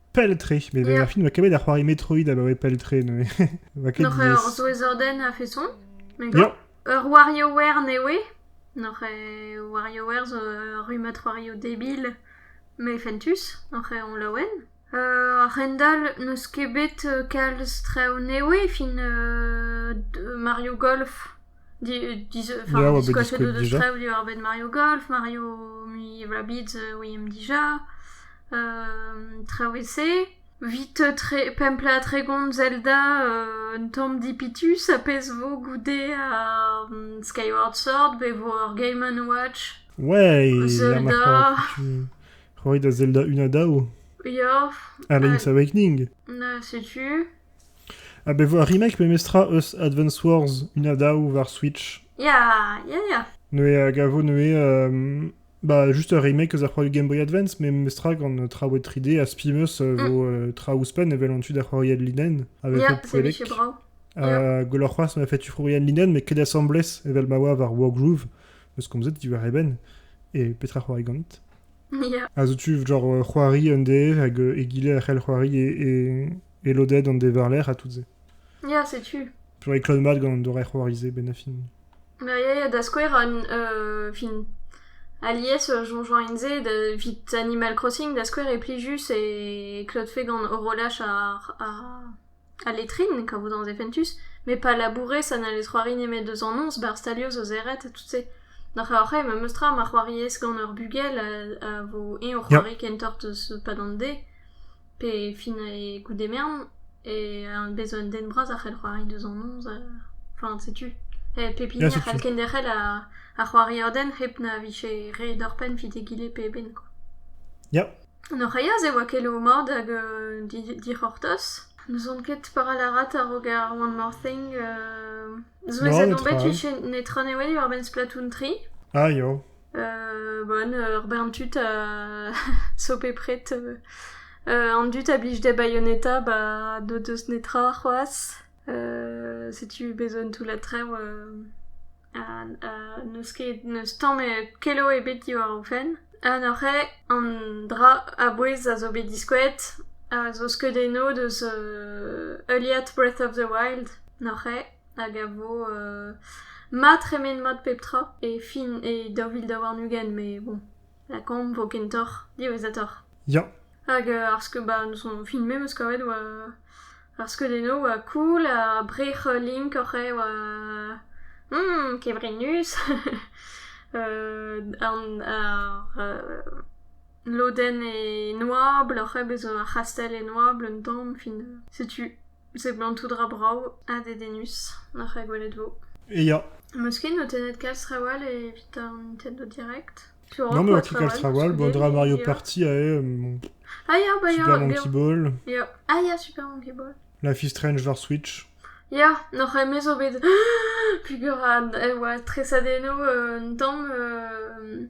pell-tre. Mais ma film va kavet ar c'hoari Metroid abaoe pell-tre. Ne va ket Noc'h diaes. ur souezhordenn a-feson Me Ya. Ur WarioWare ne oe Noc'h WarioWare zo ur rummad c'hoarioù debil Me fentus Noc'h on laouen Euh, Rendal n'eus ket bet euh, kalz traoù ne oe fin euh, d- Mario Golf diskoachet o deus traoù diwar-benn Mario Golf, Mario mui Rabbids we aimp dija, traoù e-se. Evit pemp plat tregont Zelda un tamm dipitus a pezh vo goude ar Skyward Sword bet vo ar Game Watch. Ouais, Zelda. Roit da Zelda 1 ha daou. Ya. Ha Link's Awakening. Na, setu. Ha bet 'vo ar remake memestra eus Advance Wars una daou war Switch. Ya, ya, ya. Neuze a gavo neuze euh, bah, juste ur remake eus ar c'hoari Game Boy Advance, mais memestra gant euh, traoù 3D ha Spimus euh, mm. vo euh, traoù ouzhpenn evel an tu da c'hoariad linen avec ya, le poellek. c'est bravo. Euh, Gwelloc'h c'hoazh ma fait tu c'hoariad linen, mais ket assemblés evel ma oa war Wargroove, eus komzet diwar eben, et petra c'hoari gant. Ya. A zo tu genre euh, c'hoari un de hag euh, egile a c'hell c'hoari e, e, E lodenn an devarlec'h ha tout-se. Ya, setu. Pevañ e klot mat gant an doare c'hoari-se benn ar fin. Bah, ya, ya, da skouer, an euh, fin, alies euh, jonjoint-se da, vit Animal Crossing, da skouer, e pli juste e klotfe gant horolaj ar, ar, al letrine, quand vous dans Eventus, mais pas labourer, ça n'allait c'hoari nemet deus annonce, bar stalio zo zeret, et tout-se. Nach oc'h eo memes tra ma c'hoariez gant ur bugel a, a vo eñ o c'hoari kentoc'h deus pa d'an de. pe fin e goût emern e bez 'zo un den bras a c'hell c'hoari deus an noz enfin setu pep hini a c'hall kenderc'hel ar c'hoariodenn hep na vije re doc'hpenn evit egile pe eben quoi. Ya. An Oreillas e oa ket o mad hag dic'hortoz. N'ouzon ket paralarat a-raok ar One More Thing. Souezhet on bet netra newe war-benn Splatoon 3. Ah, yo. Bon ur bern tud zo bepred an dud a blij d'e baioneta ba n'o deus netra c'hoazh setu bez' un toullad traoù ha n'eus ket n'eus tamm kelo ebet diwar o fenn ha neuze an dra a-bouez a zo bet diskouet a zo skeudennoù deus Eliot Breath of the Wild neuze. hag a vo mat tremen mat pep tra e fin e daou vil daou warn-ugent met bon lakaomp 'vo kentoc'h diwezhatoc'h. Ya. Hag ar skeud-ba n'eus hon fin me 'meus kavet oa ar skeudennoù oa cool ha brec'h link oc'h eo oa kevrinus ar lodenn e noabl oc'h eo bezañ ar c'hastell e noabl un tamm fin setu. Seblantout ra brav ha dedennus n'oc'h ket gwelet 'vo. Ya. Meus ket notennet kalz trawal evit an Nintendo Direct. Tu Non, mais ket kalz trawal. Bon, dra Mario Party a eo. Ah ya, bah ya. Super Monkey Ball. Ya. Ah ya, Super Monkey Ball. Life is Strange war Switch. Ya, n'oc'h emezo bet... Puguran, e oa tresadeno un tamm...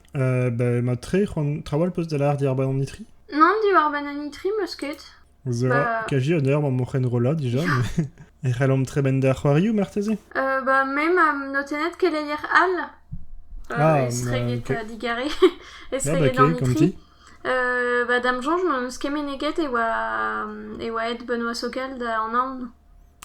Bah, mat-tre, c'hoant trawal peus da lâr diàr-benn an itri Nann, diwar-benn an itri, meus ket. Zera, Bah. kaji an eur mañ m'o c'henrollañ dija, mais e c'hellomp tremen da c'hoarioù marteze Euh, bah, me ma notennet keleier all. Euh, Ah, estreget bah, ok. euh, digarez. estreget ok, an itri. konti. Euh, bah, da'm soñj m'eus ket meneget e oa, e oa aet Benoît Sokel da an Naon.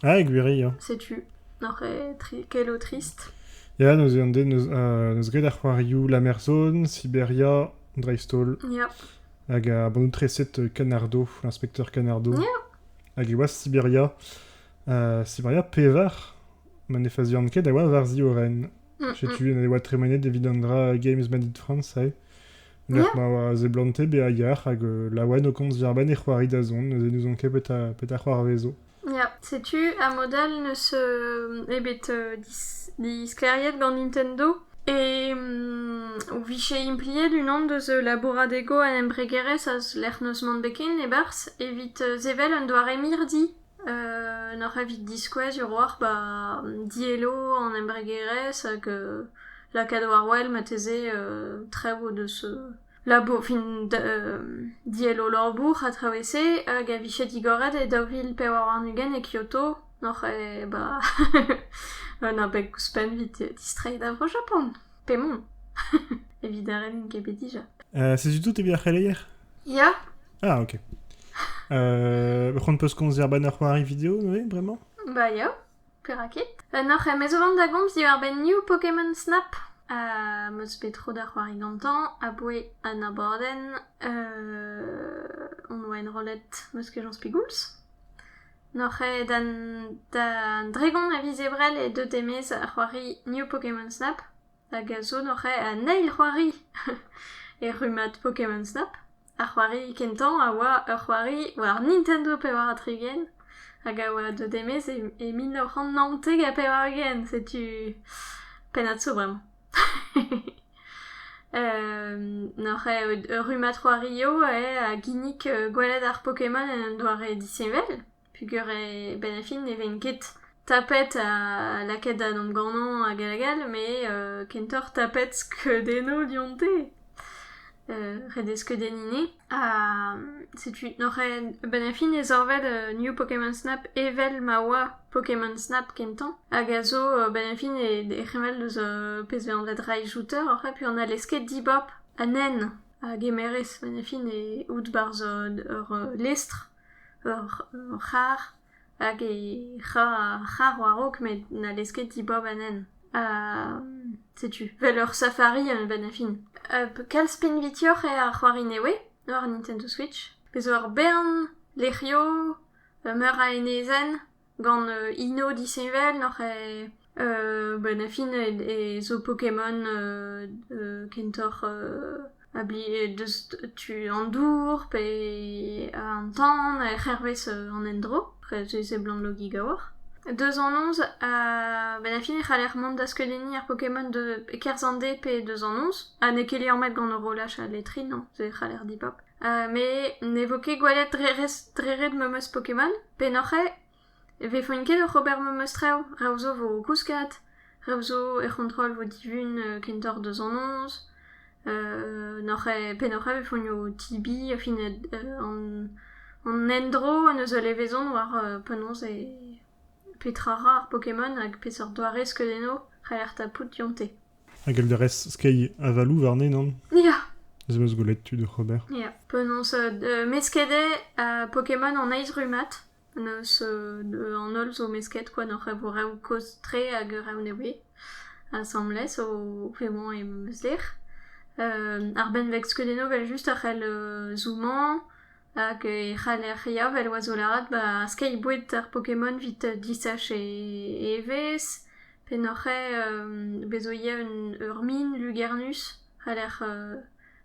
Ah, e gwiriañ. Setu, n'oc'h ket ket o trist ? Ya, neuze an den 'neus graet ar c'hoarioù Lamerzon, Siberia, dreist-holl. Ya. Hag ar bannoù-treset Canardo, l'inspecteur Canardo. Ya. Hag e oa Siberia. Uh, Siberia pevar, ma ne fazian ket a oa war ziorren. Mm, Setu, e oa tremenet evit an dra Games Made in France, eh. Lec'h ma oa a zeblante bezañ yac'h hag euh, laouen o komz verban e c'hoari da zont, neuze n'ouzon ket petra, petra c'hoarvezo. Ya, setu amodal n'eus euh, ebet euh, dis- disklêriet gant Nintendo. E mm, o vije impliet unan deus euh, labouradego an embregerezh eus lec'h n'eus mann bet ken e-barzh evit euh, sevel un doare mirdi. Nac'h evit diskouez hiroc'h ba diello an embregerezh hag lakaat war-wel marteze traoù o deus labour fin diello labour ha traoù e-se hag a vije digoret e daou vil pevar warn-ugent e Kyoto nac'h eo ba un abeg ouzhpenn evit distreiñ da Vro-Japan pe mont evit n'en int ket bet dija. Setu tout evit ar c'heleier. Ya. Ah, ok. Euh, on peut se conduire bah, ar c'hoari vidéo, oui, vraiment Bah, yo, perakit. Euh, noc'h, eh, mezo vant da gomz diwar benn new Pokémon Snap. Uh, meus bet tro da c'hoari gantañ, aboe an aborden. Uh, on oa enrollet meus kejañs pigouls. Noc'h eo da dregon a viz ebrel e deu demez ar c'hoari New Pokémon Snap. Hag a zo noc'h eo an eil c'hoari e rummad Pokémon Snap. Ar c'hoari kentañ a oa ur c'hoari war Nintendo pevar ha tri-ugent hag a oa deuet e-maez e mil nav c'hant naontek ha pevar-ugent setu pennad-so bremañ. N'oc'h eo ur rummad c'hoari eo eo a ginnig gwelet ar Pokémon en un doare disheñvel. Peger e-benn ar fin ne ven ket tapet ha lakaet da dont ganañ hag all hag all met kentoc'h tapet skeudennoù dionte ret eo skeudenniñ enne ha setu oc'h a-benn ar fin e zorved New Pokémon Snap evel ma oa Pokémon Snap kentañ hag a zo a-benn ar fin e reñval eus pezh vez anvet Raichuter oc'h a peur n'hallez ket dibab an hent a gemerez 'benn ar fin out 'barzh ur lestr. ur c'harr hag he c'harr war-raok met n'hallez ket dibab anezhañ. Ha setu, vel ur safari a-benn ar fin. kalz pinvidioch eo ar c'hoari nevez war Nintendo Switch. Bez' zo ur bern lec'hioù, meur a enezenn. Gant hino disheñvel n'oc'h eo benn ar fin e zo Pokémon kentoc'h deus tu an dour pe an tan hervez an endro dre seblanlogiñ a-walc'h. Deus anons benn ar fin e c'haller mont da skeudenniñ ar Pokémon e-kerzh an deiz pe deus anons ha n'eo ket leormet gant horolaj al letrin e c'haller dibab. met ne vo ket gwelet dre ret ma 'm eus Pokémon. Pennoc'h eo. E vefont ket oc'h ober ma 'm eus traoù. Reoù zo vo o kouskat. Reoù zo er c'hontrol vo divun kentoc'h deus an noz. noc'h eo pennoc'h eo e vefont o tibiñ fin an endro neus ul levezon war penaos e petra ra ar Pokémon hag peseurt doare skeudennoù c'haller tapout dionte. Hag Elderez skeiñ avaloù warne, nann? Ya. Ez eus gwelet tud oc'h ober. Ya, penaos. Euh, mesket eo ha Pokémon an eizh rummad. Penaos euh, an holl zo mesket kwa n'o rev kozh-tre hag rev ne voe. Asambles o vemañ em eus lec'h. Euh, ar benveg skeudennoù vel just a c'hell euh, zoomañ hag e c'haller ya vel oa zo lâret ba skeiñ boued ar Pokémon 'vit disach e evezh. P'en-hoc'h ae bez' 'zo ivez ur min lugernus a lec'h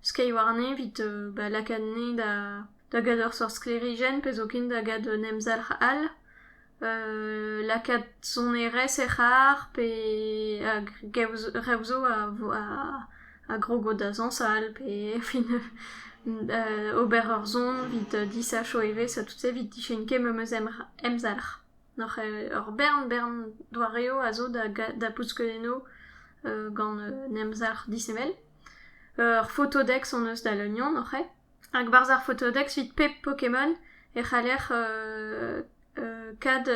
skeiñ warne evit ba lakaat enne da gad ur seurt sklêrijenn pe zoken da gad un emzalc'h all. lakaat sonerezh er c'harr pe hag rev 'zo a grog o dazañs all pe fin ober ur son evit disachañ evezh ha tout-se evit dicheñkeñ memes emzalc'h. N'hor c'hell ur bern bern doareoù a zo da bousket enno gant un emzalc'h disheñvel. Ur fotodex hon eus da Leunion hor c'hae. Hag e-barzh ar fotodex evit pep Pokémon e c'haller kad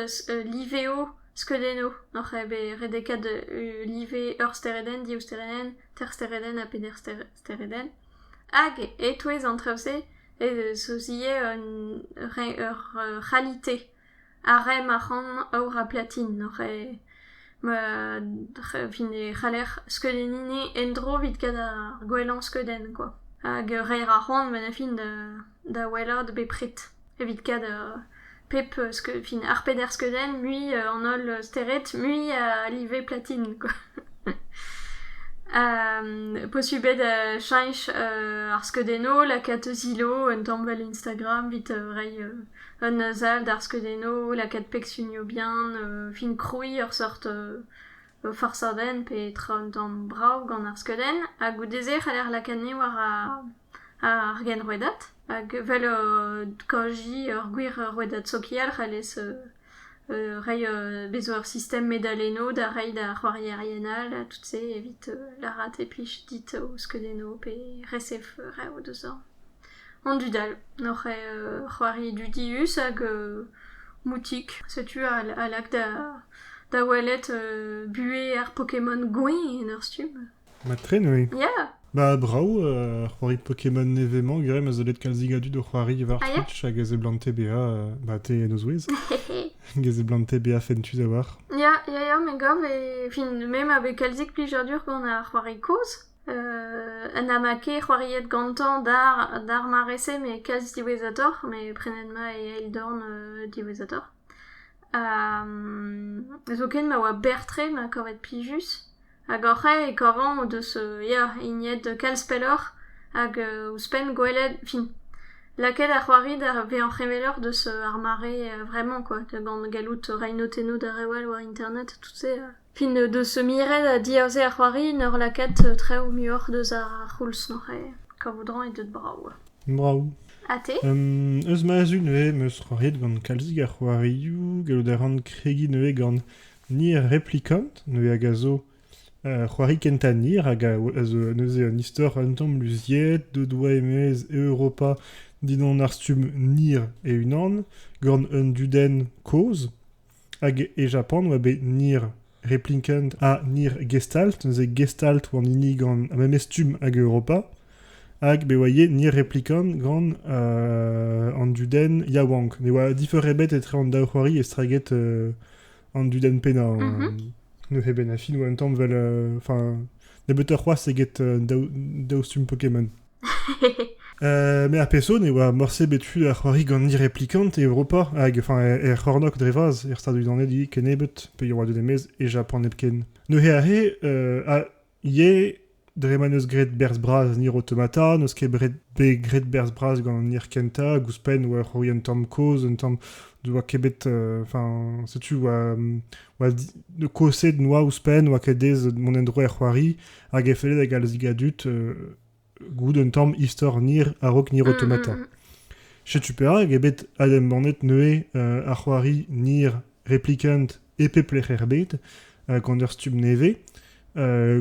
liveo skeudennoù n'hor c'hae bet redekaet live ur steredenn, div steredenn, ter steredenn ha peder steredenn. Hag e-touez an traoù-se ez eus ivez ur c'halite. Ar re ma ran aour ha platin ar re re fin e c'haller skeudenniñ en-dro evit kat ar gwellañ skeudenn kwa. Hag reiñ a ran ben a fin da wellaat bepred evit kat pep fin ar peder skeudenn mui an holl stered mui a live platin kwa. posubl eo da cheñch ar skeudennoù lakaat o zilo un tamm 'vel Instagram evit reiñ Un sal d'ar skeudennoù, lakaat peg sunioù bihan, fin krouiñ ur seurt farsadenn pe tra un tamm brav gant ar skeudenn. Ha goude-se e c'haller lakaat ni war ar genrouedad hag evel kaojiñ ur gwir rouedad sokial c'hallez reiñ bez 'zo ur sistem medalennoù da reiñ d'ar c'hoarierien all ha tout se evit lârat e plij dit ho skeudennoù pe resef reoù deus-eñ. An dud all oc'h c'hoari dudius hag moutik. Setu a lak da welet buhez ar Pokémon gwenn en ur stumm. Mat-tre neuze. Ya! Ba brav, c'hoari Pokémon nevez-mañ Grem a zo bet kalzik a dud o c'hoari war Twitch hag a seblante bezañ ba te en o zouez. Get seblante bezañ fentus a-walc'h. Ya, ya, ya, me gav. E fin, me ma vez kalzik plijadur gant ar c'hoari kozh. ha na ma ket c'hoariet gantañ d'ar mare-se met kalz diwezhatoc'h met prenet 'ma e eil dorn diwezhatoc'h. zoken ma oa berr-tre ma kavet plijus hag hoc'h ae e kavan o deus ya hiniet kalz pelloc'h hag ouzhpenn gwelet fin lakaet ar c'hoari da vezañ heveloc'h deus ar mare vremañ kwa gant gallout reiñ notennoù d'ar re all war internet tout-se. Fin deus miret ha diaze ar c'hoari en ur lakaat traoù muioc'h deus ar c'houlz-noz-c'haer. Kavout ran eo deut brav. Brav. Ha te? Eus ma zud nevez 'm eus c'hoariet gant kalzik a c'hoarioù. Gallout a ran kregiñ nevez gant Near Replicant, nevez hag a zo ur c'hoari kentañ Near hag a zo neuze un istor un tamm luziet, deuet oa e-maez Europa dindan ar stumm Near e-unan, gant un dudenn kozh. Hag e Japan e oa bet Nir Replicant ha Nir Gestalt, neuze Gestalt oa an hini gant ar memes stumm hag Europa. Hag bet oa ivez Nir Replicant gant euh, an dudenn yaouank. Ne oa difer ebet etre an daou c'hoari estreget euh, an dudenn pennañ. Mhm. Neuze ben ha fin oa un tamm 'vel... euh, Enfin, nebeutoc'h c'hoazh eget euh, daou, daou stumm Pokémon. Me ar peso ne oa morse bet tu da c'hoari gant ni replikant e Europa hag enfin er c'hornok dre vras er Stadoù-Unanet kennebeut pe yaouadet e-maez e Japan hepken. Neuze arre euh, ah, ivez dre ma n'eus graet berzh bras Nier Automata n'eus ket bet graet berzh bras gant Nier Kenta gouzouzhpenn oa c'hoari un tamm kozh un tamm ne oa ket bet euh, enfin setu oa oa di- kaoset noa ouzhpenn oa ket aes mont en-dro er c'hoari hag e felle da galzik a dud gouzout un tamm istor nir a-raok Nir Automata. Setu perak eo bet adembannet neuze ar c'hoari Nir Replicant e pep lec'h er bed gant ur stumm nevez.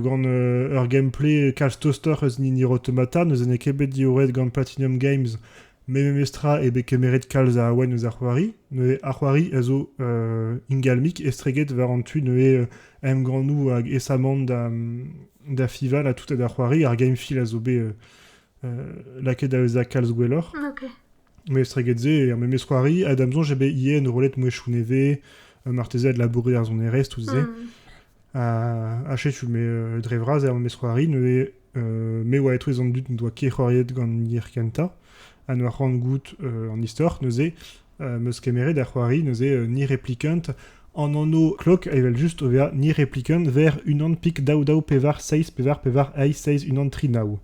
gant ur gameplay kalz tostoc'h eus Nir Automata, n'eus ket bet diorret gant Platinum Games met memestra eo bet kemeret kalz a awen eus ar c'hoari. Neuze ar c'hoari a zo ingalmik estreget war an tu neuze emgannoù hag aesamant da, da fival ha tout ha da c'hoari. Ar Gamefeel a zo bet lakaet da vezañ kalz gwelloc'h. Okay. Mais estreget se, er memes c'hoari, a dam soñj eo bet ivez enrollet mouezhioù nevez, marteze a labouré ar sonerezh, tout se. Mm. Ha setu, me, dre vras, er memes c'hoari, neuze me oa etouez an dud n'en doa ket c'hoariet gant an yer kentañ, ha n'oa c'hoant goût an istor, neuze meus kemeret ar c'hoari, neuze Ni Replicant, an anv klok evel just o vezañ Ni Replicant ver unan pik daou daou pevar seizh pevar pevar eizh seizh unan tri nav.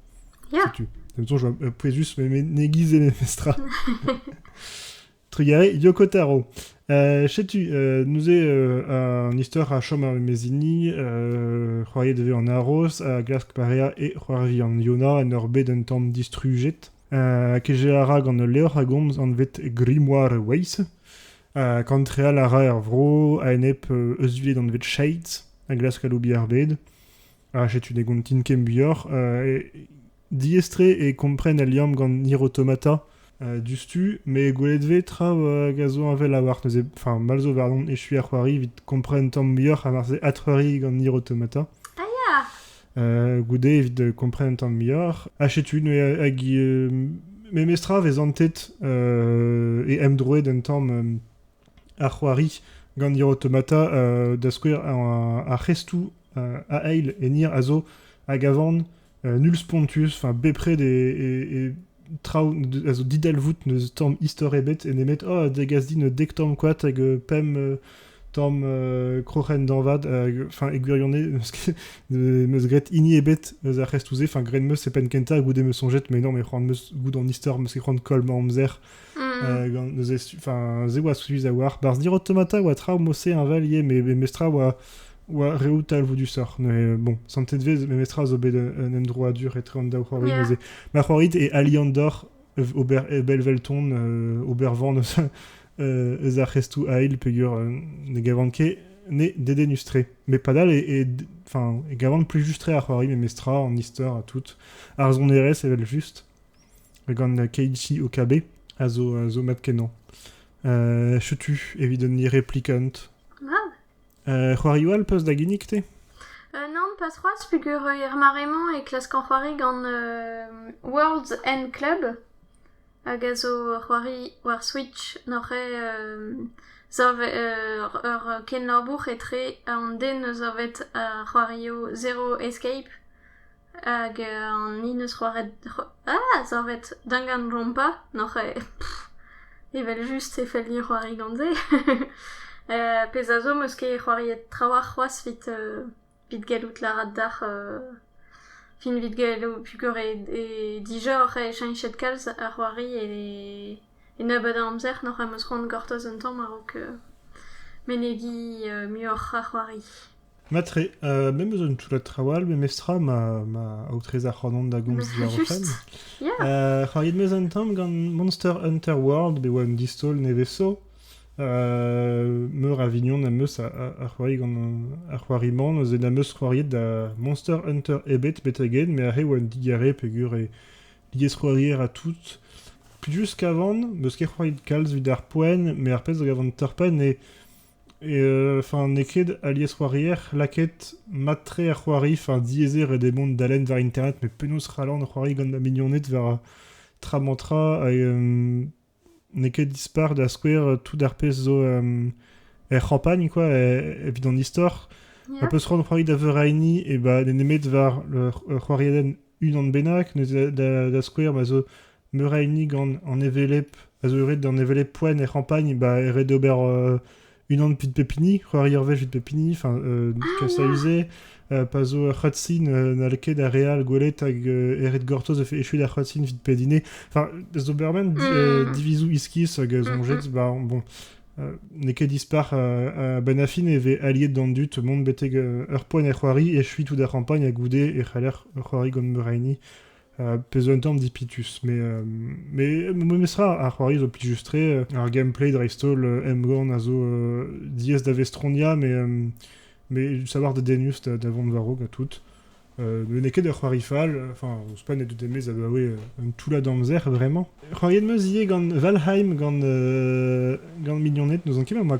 Ya. Setu. D'am soñj e poe just menegiz e memes tra. Trugarez, Yokotaro. Euh, setu, euh, neuze, euh, un histoire a chom ar mes hini, euh, c'hoariet e vez an aros, a glask parea e c'hoari an Yona en ur bet un tamm distrujet. Uh, keje a ra gant ul levr a gomz anvet Grimoire Ways. Uh, kantreal a ra er vro a-enep uh, euzhviled anvet Shades a glask aloubi ar bed. Ha setu ne gontin ket muioc'h. Uh, Diaes-tre eo kompren al liamm gant Hirautomata diouzhtu, met gwelet 'vez traoù hag a zo heñvel a-walc'h neuze. Enfin, mall zo warnon echuiñ ar c'hoari evit kompren tamm muioc'h ha marse adc'hoari gant Hirautomata. Ah ya! goude evit kompren tamm muioc'h. Ha setu neuze hag memes tra 'vez antet e emdroed un tamm ar c'hoari gant Hiro Automata, da skouer ar c'hestoù a eil e Nier a zo hag a van nul spontus, enfin bepred e, traoù a zo didalvoud n'eus tamm istor ebet e nemet oh degas din dek tamm koad hag pemp tamm kroc'hen dañvad enfin e gwirionez meus graet hini ebet eus ar c'hestoù-se enfin graet meus e penn kentañ goude meus soñjet mais non mais c'hoant meus goût an istor meus ket c'hoant koll ma amzer Mm. gant neuze enfin se oa suivi a war barz dir automata oa tra mose inval ivez mais memestra oa oa reoù talvoù disoc'h neuze bon santet vez memestra zo bet un endroit dur etre an daou c'hoari Yeah. neuze ma c'hoari e Aliandor ober e Belvelton euh, ober van eus euh, eus ar c'hestoù ail peger euh, ne gavan ket ne dedenus-tre mais padal e, e enfin e gavan plus just-tre ar c'hoari memestra an istor ha tout ar sonerezh evel just gant Keiichi Okabe a zo, a zo mat-kenañ. Uh, setu evit un replikant. Ah. Uh, c'hoarioù all peus da ginnig te uh, Non, pas c'hoazh, peger er mare-mañ e klaskan c'hoari gant uh, Worlds and Club, hag a zo c'hoari war Switch n'oc'h uh, ur kenlabour etre an den eus ar c'hoario Zero Escape Hag an hin eus c'hoaret ah savet dangan-rompa n'oc'h evel-just e felli c'hoari gant-se. pezh a zo 'm eus ket c'hoariet trawalc'h c'hoazh 'vit evit gallout lâret deoc'h fin 'vit gallout pegwir eo eo dijor cheñchet kalz ar c'hoari e E nebeud a amzer n'oc'h em eus c'hoant gortoz un tamm a-raok menegiñ muioc'h a c'hoari. Matre, me 'm eus un toullad traoù all memestra ma ma aotrez a c'hoant on da gomz diwar o fenn. C'hoariet 'm eus un tamm gant Monster Hunter World bet 'oa un distaol nevez-'so. Meur a vignon am eus a c'hoari gant ar c'hoari-mañ. Neuze n'am eus c'hoariet da Monster Hunter ebet betek-henn, met aze 'oa un digare peogwir Liesc'hoarier ha tout. Plijus kavan, n'eus ket c'hoari kalz evit ar poent, met ar pezh a gavan torr-penn eo, eo enfin n'eo ket al liesc'hoarier lakaet mat-tre a c'hoari, enfin diaes eo ret eo mont da lenn war internet, met penaos c'hallan c'hoari gant ma mignoned war tra-mañ-tra hag n'eo ket dispar da skouer tout ar pezh zo er c'hampagn quoi evit an istor a peus c'hoant c'hoari da veuraini e ba n'eo nemet war ur c'hoariadenn unan bennak neuze da skouer ma zo meur a hini gant an hevelep a zo eured d'an hevelep poent er c'hampagn ba e ret d'ober unan evit pep hini, c'hoari ur wech evit pep hini, enfin, euh, kas a-uze, euh, pa zo ur c'hratsin euh, n'hall ket ar re all gwelet hag euh, eret gortoz efe echuet ar c'hratsin evit pedine. Enfin, Doberman di- euh, Mm. divizoù iskis hag euh, soñjet, bah, bon, euh, n'eo ket dispar euh, a benn ar fin e vez aliet d'an dud mont betek euh, ur poent er c'hoari, echuit tout ar c'hampagn ha goude e c'haller c'hoari gant Meraini. pezh un tamm dipitus. Mais, euh, mais memestra, ar c'hoari zo plijus-tre. Ar gameplay dreist-holl, Emgorn a zo euh, dies da Vestronia, mais, euh, mais savoir de Denus da, da vont varog ha tout. Euh, n'en ket ur c'hoari fall, enfin, ouzhpenn e dut emez abaoe un toulla d'amzer, vraiment. C'hoariet meus ivez gant Valheim, gant, gant mignoned, n'ouzon ket ma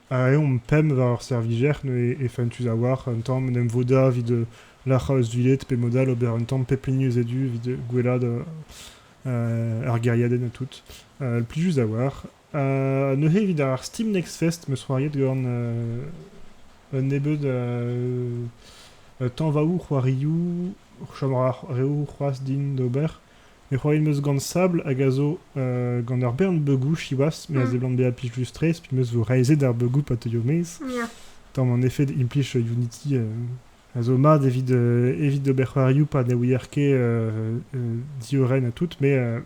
aeomp pemp war ar servijer neuze e fentus a-walc'h un tamm en em vodañ evit lârc'hañ eus duded pe mod all ober un tamm pep hini eus e du evit gwelaat ar gêriadenn ha tout plijus a-walc'h ha neuze evit ar Steam Next Fest 'm eus c'hoariet gant un nebeud tañvaoù c'hoarioù chom a ra reoù c'hoazh din d'ober E c'hoariet 'meus gant Sable hag a zo gant ur bern beugoù siwazh, me a seblant bezañ plijus-tre, pe 'meus zo reizhet ar beugoù pa teuio maez. Ya. Tamm an efed implij Unity a zo mat evit evit ober c'hoarioù pa ne ouier ket diorren ha tout, met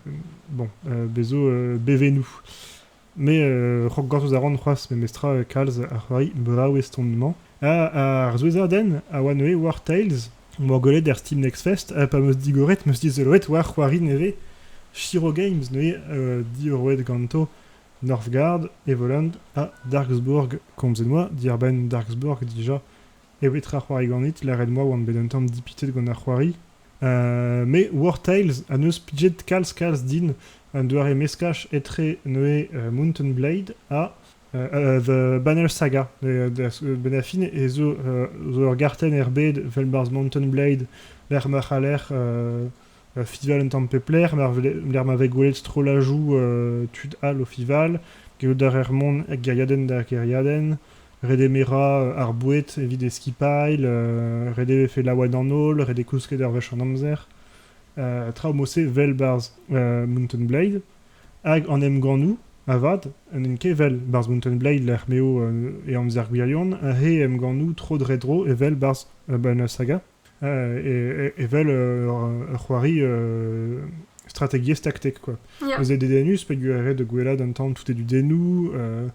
bon, bez zo bevennoù. Me, rok gortoz a ran c'hoazh memestra kalz ar c'hoari brav eston-mañ. Ar souezhadenn a oa neuze war Tales 'moa gwelet er Steam Next Fest ha pa 'm eus digoret 'm eus dizoloet war c'hoari nevez Shiro Games neuze diorroet ganto Northgard, Evoland ha Darksburg. Komzet 'moa diàr-benn Darksburg dija evit ra c'hoari ganit, lâret moa oan bet un tamm dipitet gant ar c'hoari. me War Tales a neus pijet kalz-kalz din un doare meskaj etre neuze Mountain Blade ha The Banner Saga. Benn ar fin e zo ur gartenn er bed 'vel barzh Mountain Blade lec'h ma c'haller euh, Fival un tamm pep lec'h, lec'h ma vez gwelet strollajoù euh, tud all o Fival, gellout da rer mont er geriadenn da geriadenn, ret eo merañ ar boued evit e skipailh, ret eo vefe laouen an holl, ret eo kousket ur wech an amzer. traoù mod-se vel barzh Mountain Blade, hag an emgannoù, avat, n'int ket vel barzh Mountain Blade lec'h m'eo e amzer gwirion, ha he emgannoù tro dre dro evel barzh Saga. evel ur c'hoari strategiezh taktek quoi. Yeah. Eus e dedennus peogwir e red da gwellaat an tamm tout e dudennoù, euh,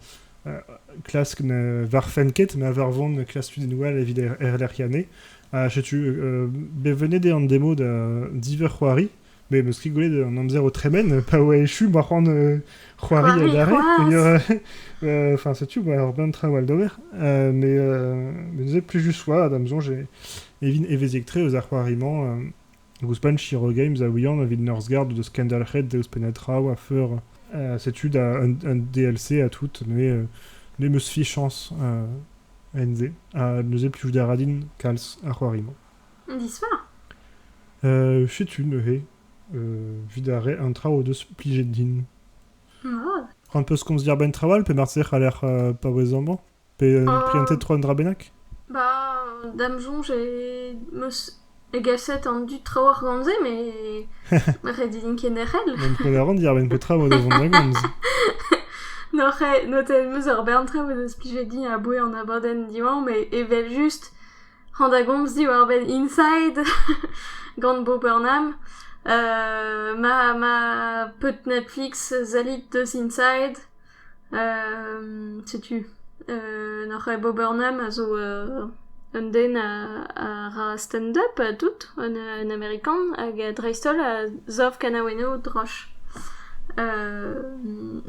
klask ne varfent ket, ma varvont ne klask tudennoù all evit er- erlec'hiañ. Ha setu, euh, bet vennet eo an demo da diverc'h c'hoari, Mais parce que gwelet an amzer o tremen, pa oa echu, ma c'hoant euh, c'hoari C'hoari, adarre. c'hoaz. Euh, Enfin, setu, bah, alors plein de travel d'ober. Euh, mais, euh, mais nous êtes plus juste oa, da mzon, j'ai evin eveziek tre eus ar c'hoariman euh, ouzhpenn Shiro Games a ouian evit Northgard de Scandalhead deus penetra a feur euh, setu da un, un DLC à tout, mais euh, ne meus fichañs euh, enze, ha neus eo plus da radin kals ar c'hoariman. Disfar ? Setu neuze, evit ar re, an traoù o deus plijet din. An peus komz diàr-benn traoù all pe marteze e c'haller paouez amañ pe priantet tro un dra bennak Ba, da'm soñj em eus egaset an dud traoù ar gomz-se met ret eo din kenderc'hel. N'am kwel a ran diàr-benn petra eo da vont da gomz. N'oc'h notet em eus ur bern traoù o deus plijet din a-bouez an abadenn diwañ met evel-just hañ da gomz diwar-benn Inside gant Bo Burnham. ma ma pod Netflix salit deus Inside setu nac'hañ Bo Burnham a zo un den a ra stand-up tout un Amerikan hag dreist-holl a sav kanaouennoù droch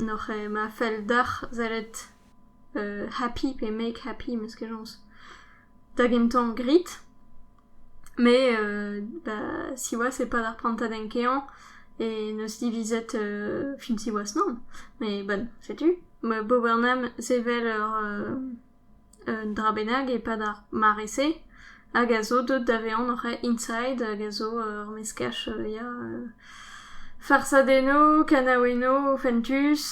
nac'hañ ma fell deoc'h sellet happy pe make happy, m'eus ket chañs, da gentañ grit, met ba siwazh e pad ar prantadenn keañ e neus divizet fin siwazh mann, met bon setu, ma Bowernham sevel ur un dra bennak e-pad ar mare-se. hag a zo deut da vezañ hoc'h inside hag a zo ur meskaj ya farsadennoù, kanaouennoù fentus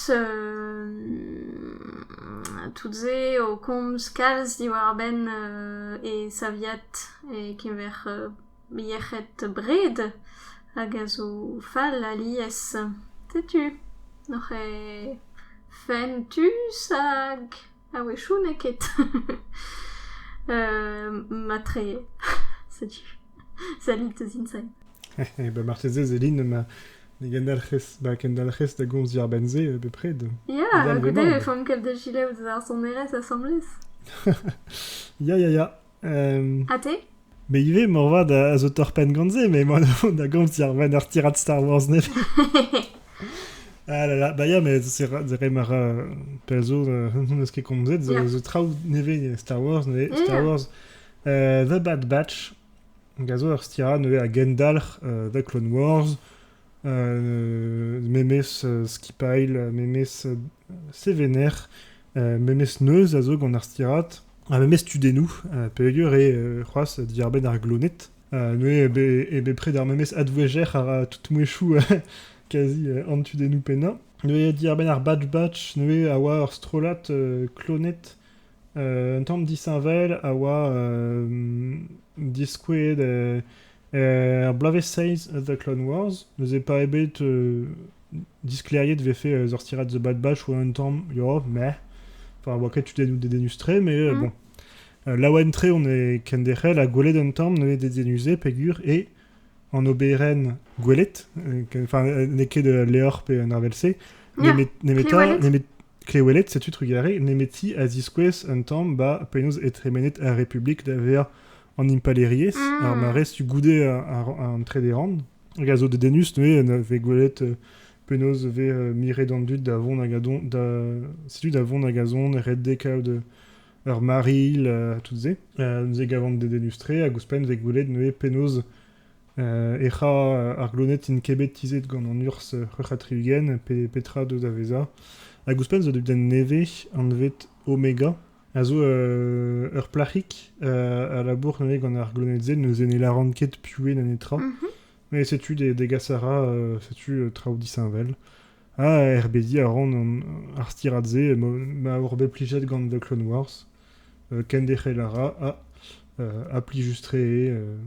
tout se o komz kalz diwar-benn e saviad e-keñver yec'hed bred hag a zo fall alies. Setu hoc'h fentus hag... A-wechoù n'eo ket. Matre, setu. Salut eus Inside. Ba marteze ez elin ma ne gendalc'hez ba kendalc'hez da gomz diàr-benn-se bepred. Ya, a goude e fomp kaout da gilaout eus ar sonerezh asambles. Ya, ya, ya. Ha te Me ivez, moarvat, a zo torr-penn gant se, mais moi, da gomz diar ben ar tirad Star Wars nevez. Ah là là, bah ya, mais c'est re mar pell zo, n'eus ket komzet, zo, Yeah. zo traoù nevez Star Wars, nevez Mm. Star Wars, euh, The Bad Batch, hag a zo ur stirad nevez a gendalc'h euh, The Clone Wars, Memes skipailh, memes sevener, memes neuz a zo gant ar stirad, ha memes tudennoù peogwir eo c'hoazh diarbenn ar gloned. Neuze eo bepred ar memes advouezher a ra tout mouezhioù kazi an tudennoù pennañ. Neuze diarbenn ar batch-batch neuze a oa ur strollad kloned Un tamm disheñvel a oa diskouezet er bloavezh seizh eus The Clone Wars. Neuze pas ebet disklêriet e vefe ur stirad The Bad Batch oa un tamm yo, meh. Enfin, oa ket dedennus tre, mais euh, bon. Euh, laouen tre on est kenderc'hel ha gwelet un tamm n'eo dedennus pegur et an oberenn gwelet, euh, enfin n'eo ket ul levr pe un arvel-se, nemet nemet Kleweled, setu trugarez nemeti a ziskouez un tamm 'ba penaos eo tremenet ar Republik da vezañ an impalaeriezh, ar marestu goude an trede rann, hag a zo dedennus neuze na vez gwelet penaos vez miret an dud da vont hag a dont da... setu da vont hag a zont redek kaout ur marilh, tout se. Neuze e gavan dedennus-tre hag ouzhpenn 'vez gwelet neuze penaos Ec'h a ar gloned int ket bet tizhet gant an urzh c'hwec'h-ha-tri-ugent pe petra deus da vezañ. Hag ouzhpenn zo den nevez anvet Omega a zo ur plac'hig a labour neuze gant ar gloned-se neuze ne lâran ket puhe na netra. Met setu degas a ra setu traoù disheñvel. Ha erbediñ a ran ar stirad-se ma oc'h bet plijet gant The Clone Wars. Kenderc'hel a ra ha plijus-tre eo.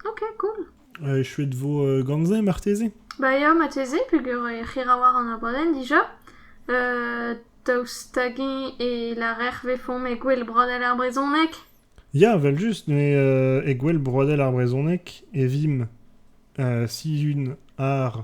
Ok, cool. Euh, je suis de vos euh, ganze marteze Ba ya, mateze, peger e c'hira war an abadenn dija. Euh, daoust hag-eñ e larer vefomp e gwell broadel ar brezhoneg? Ya, vel just, mais euh, e gwell broadel ar brezhoneg e vimp euh, si une ar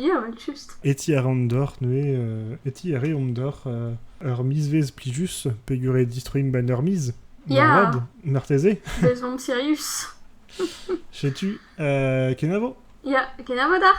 Ya, evel-just. E ti a ran deoc'h neuze, euh, e ti a reomp deoc'h euh, ur mizvezh plijus peogwir eo distroimp en ur miz. Ya. Moarvat, marteze. Bez on Sirius. Setu, euh, kenavo. Ya, kenavo d'ar.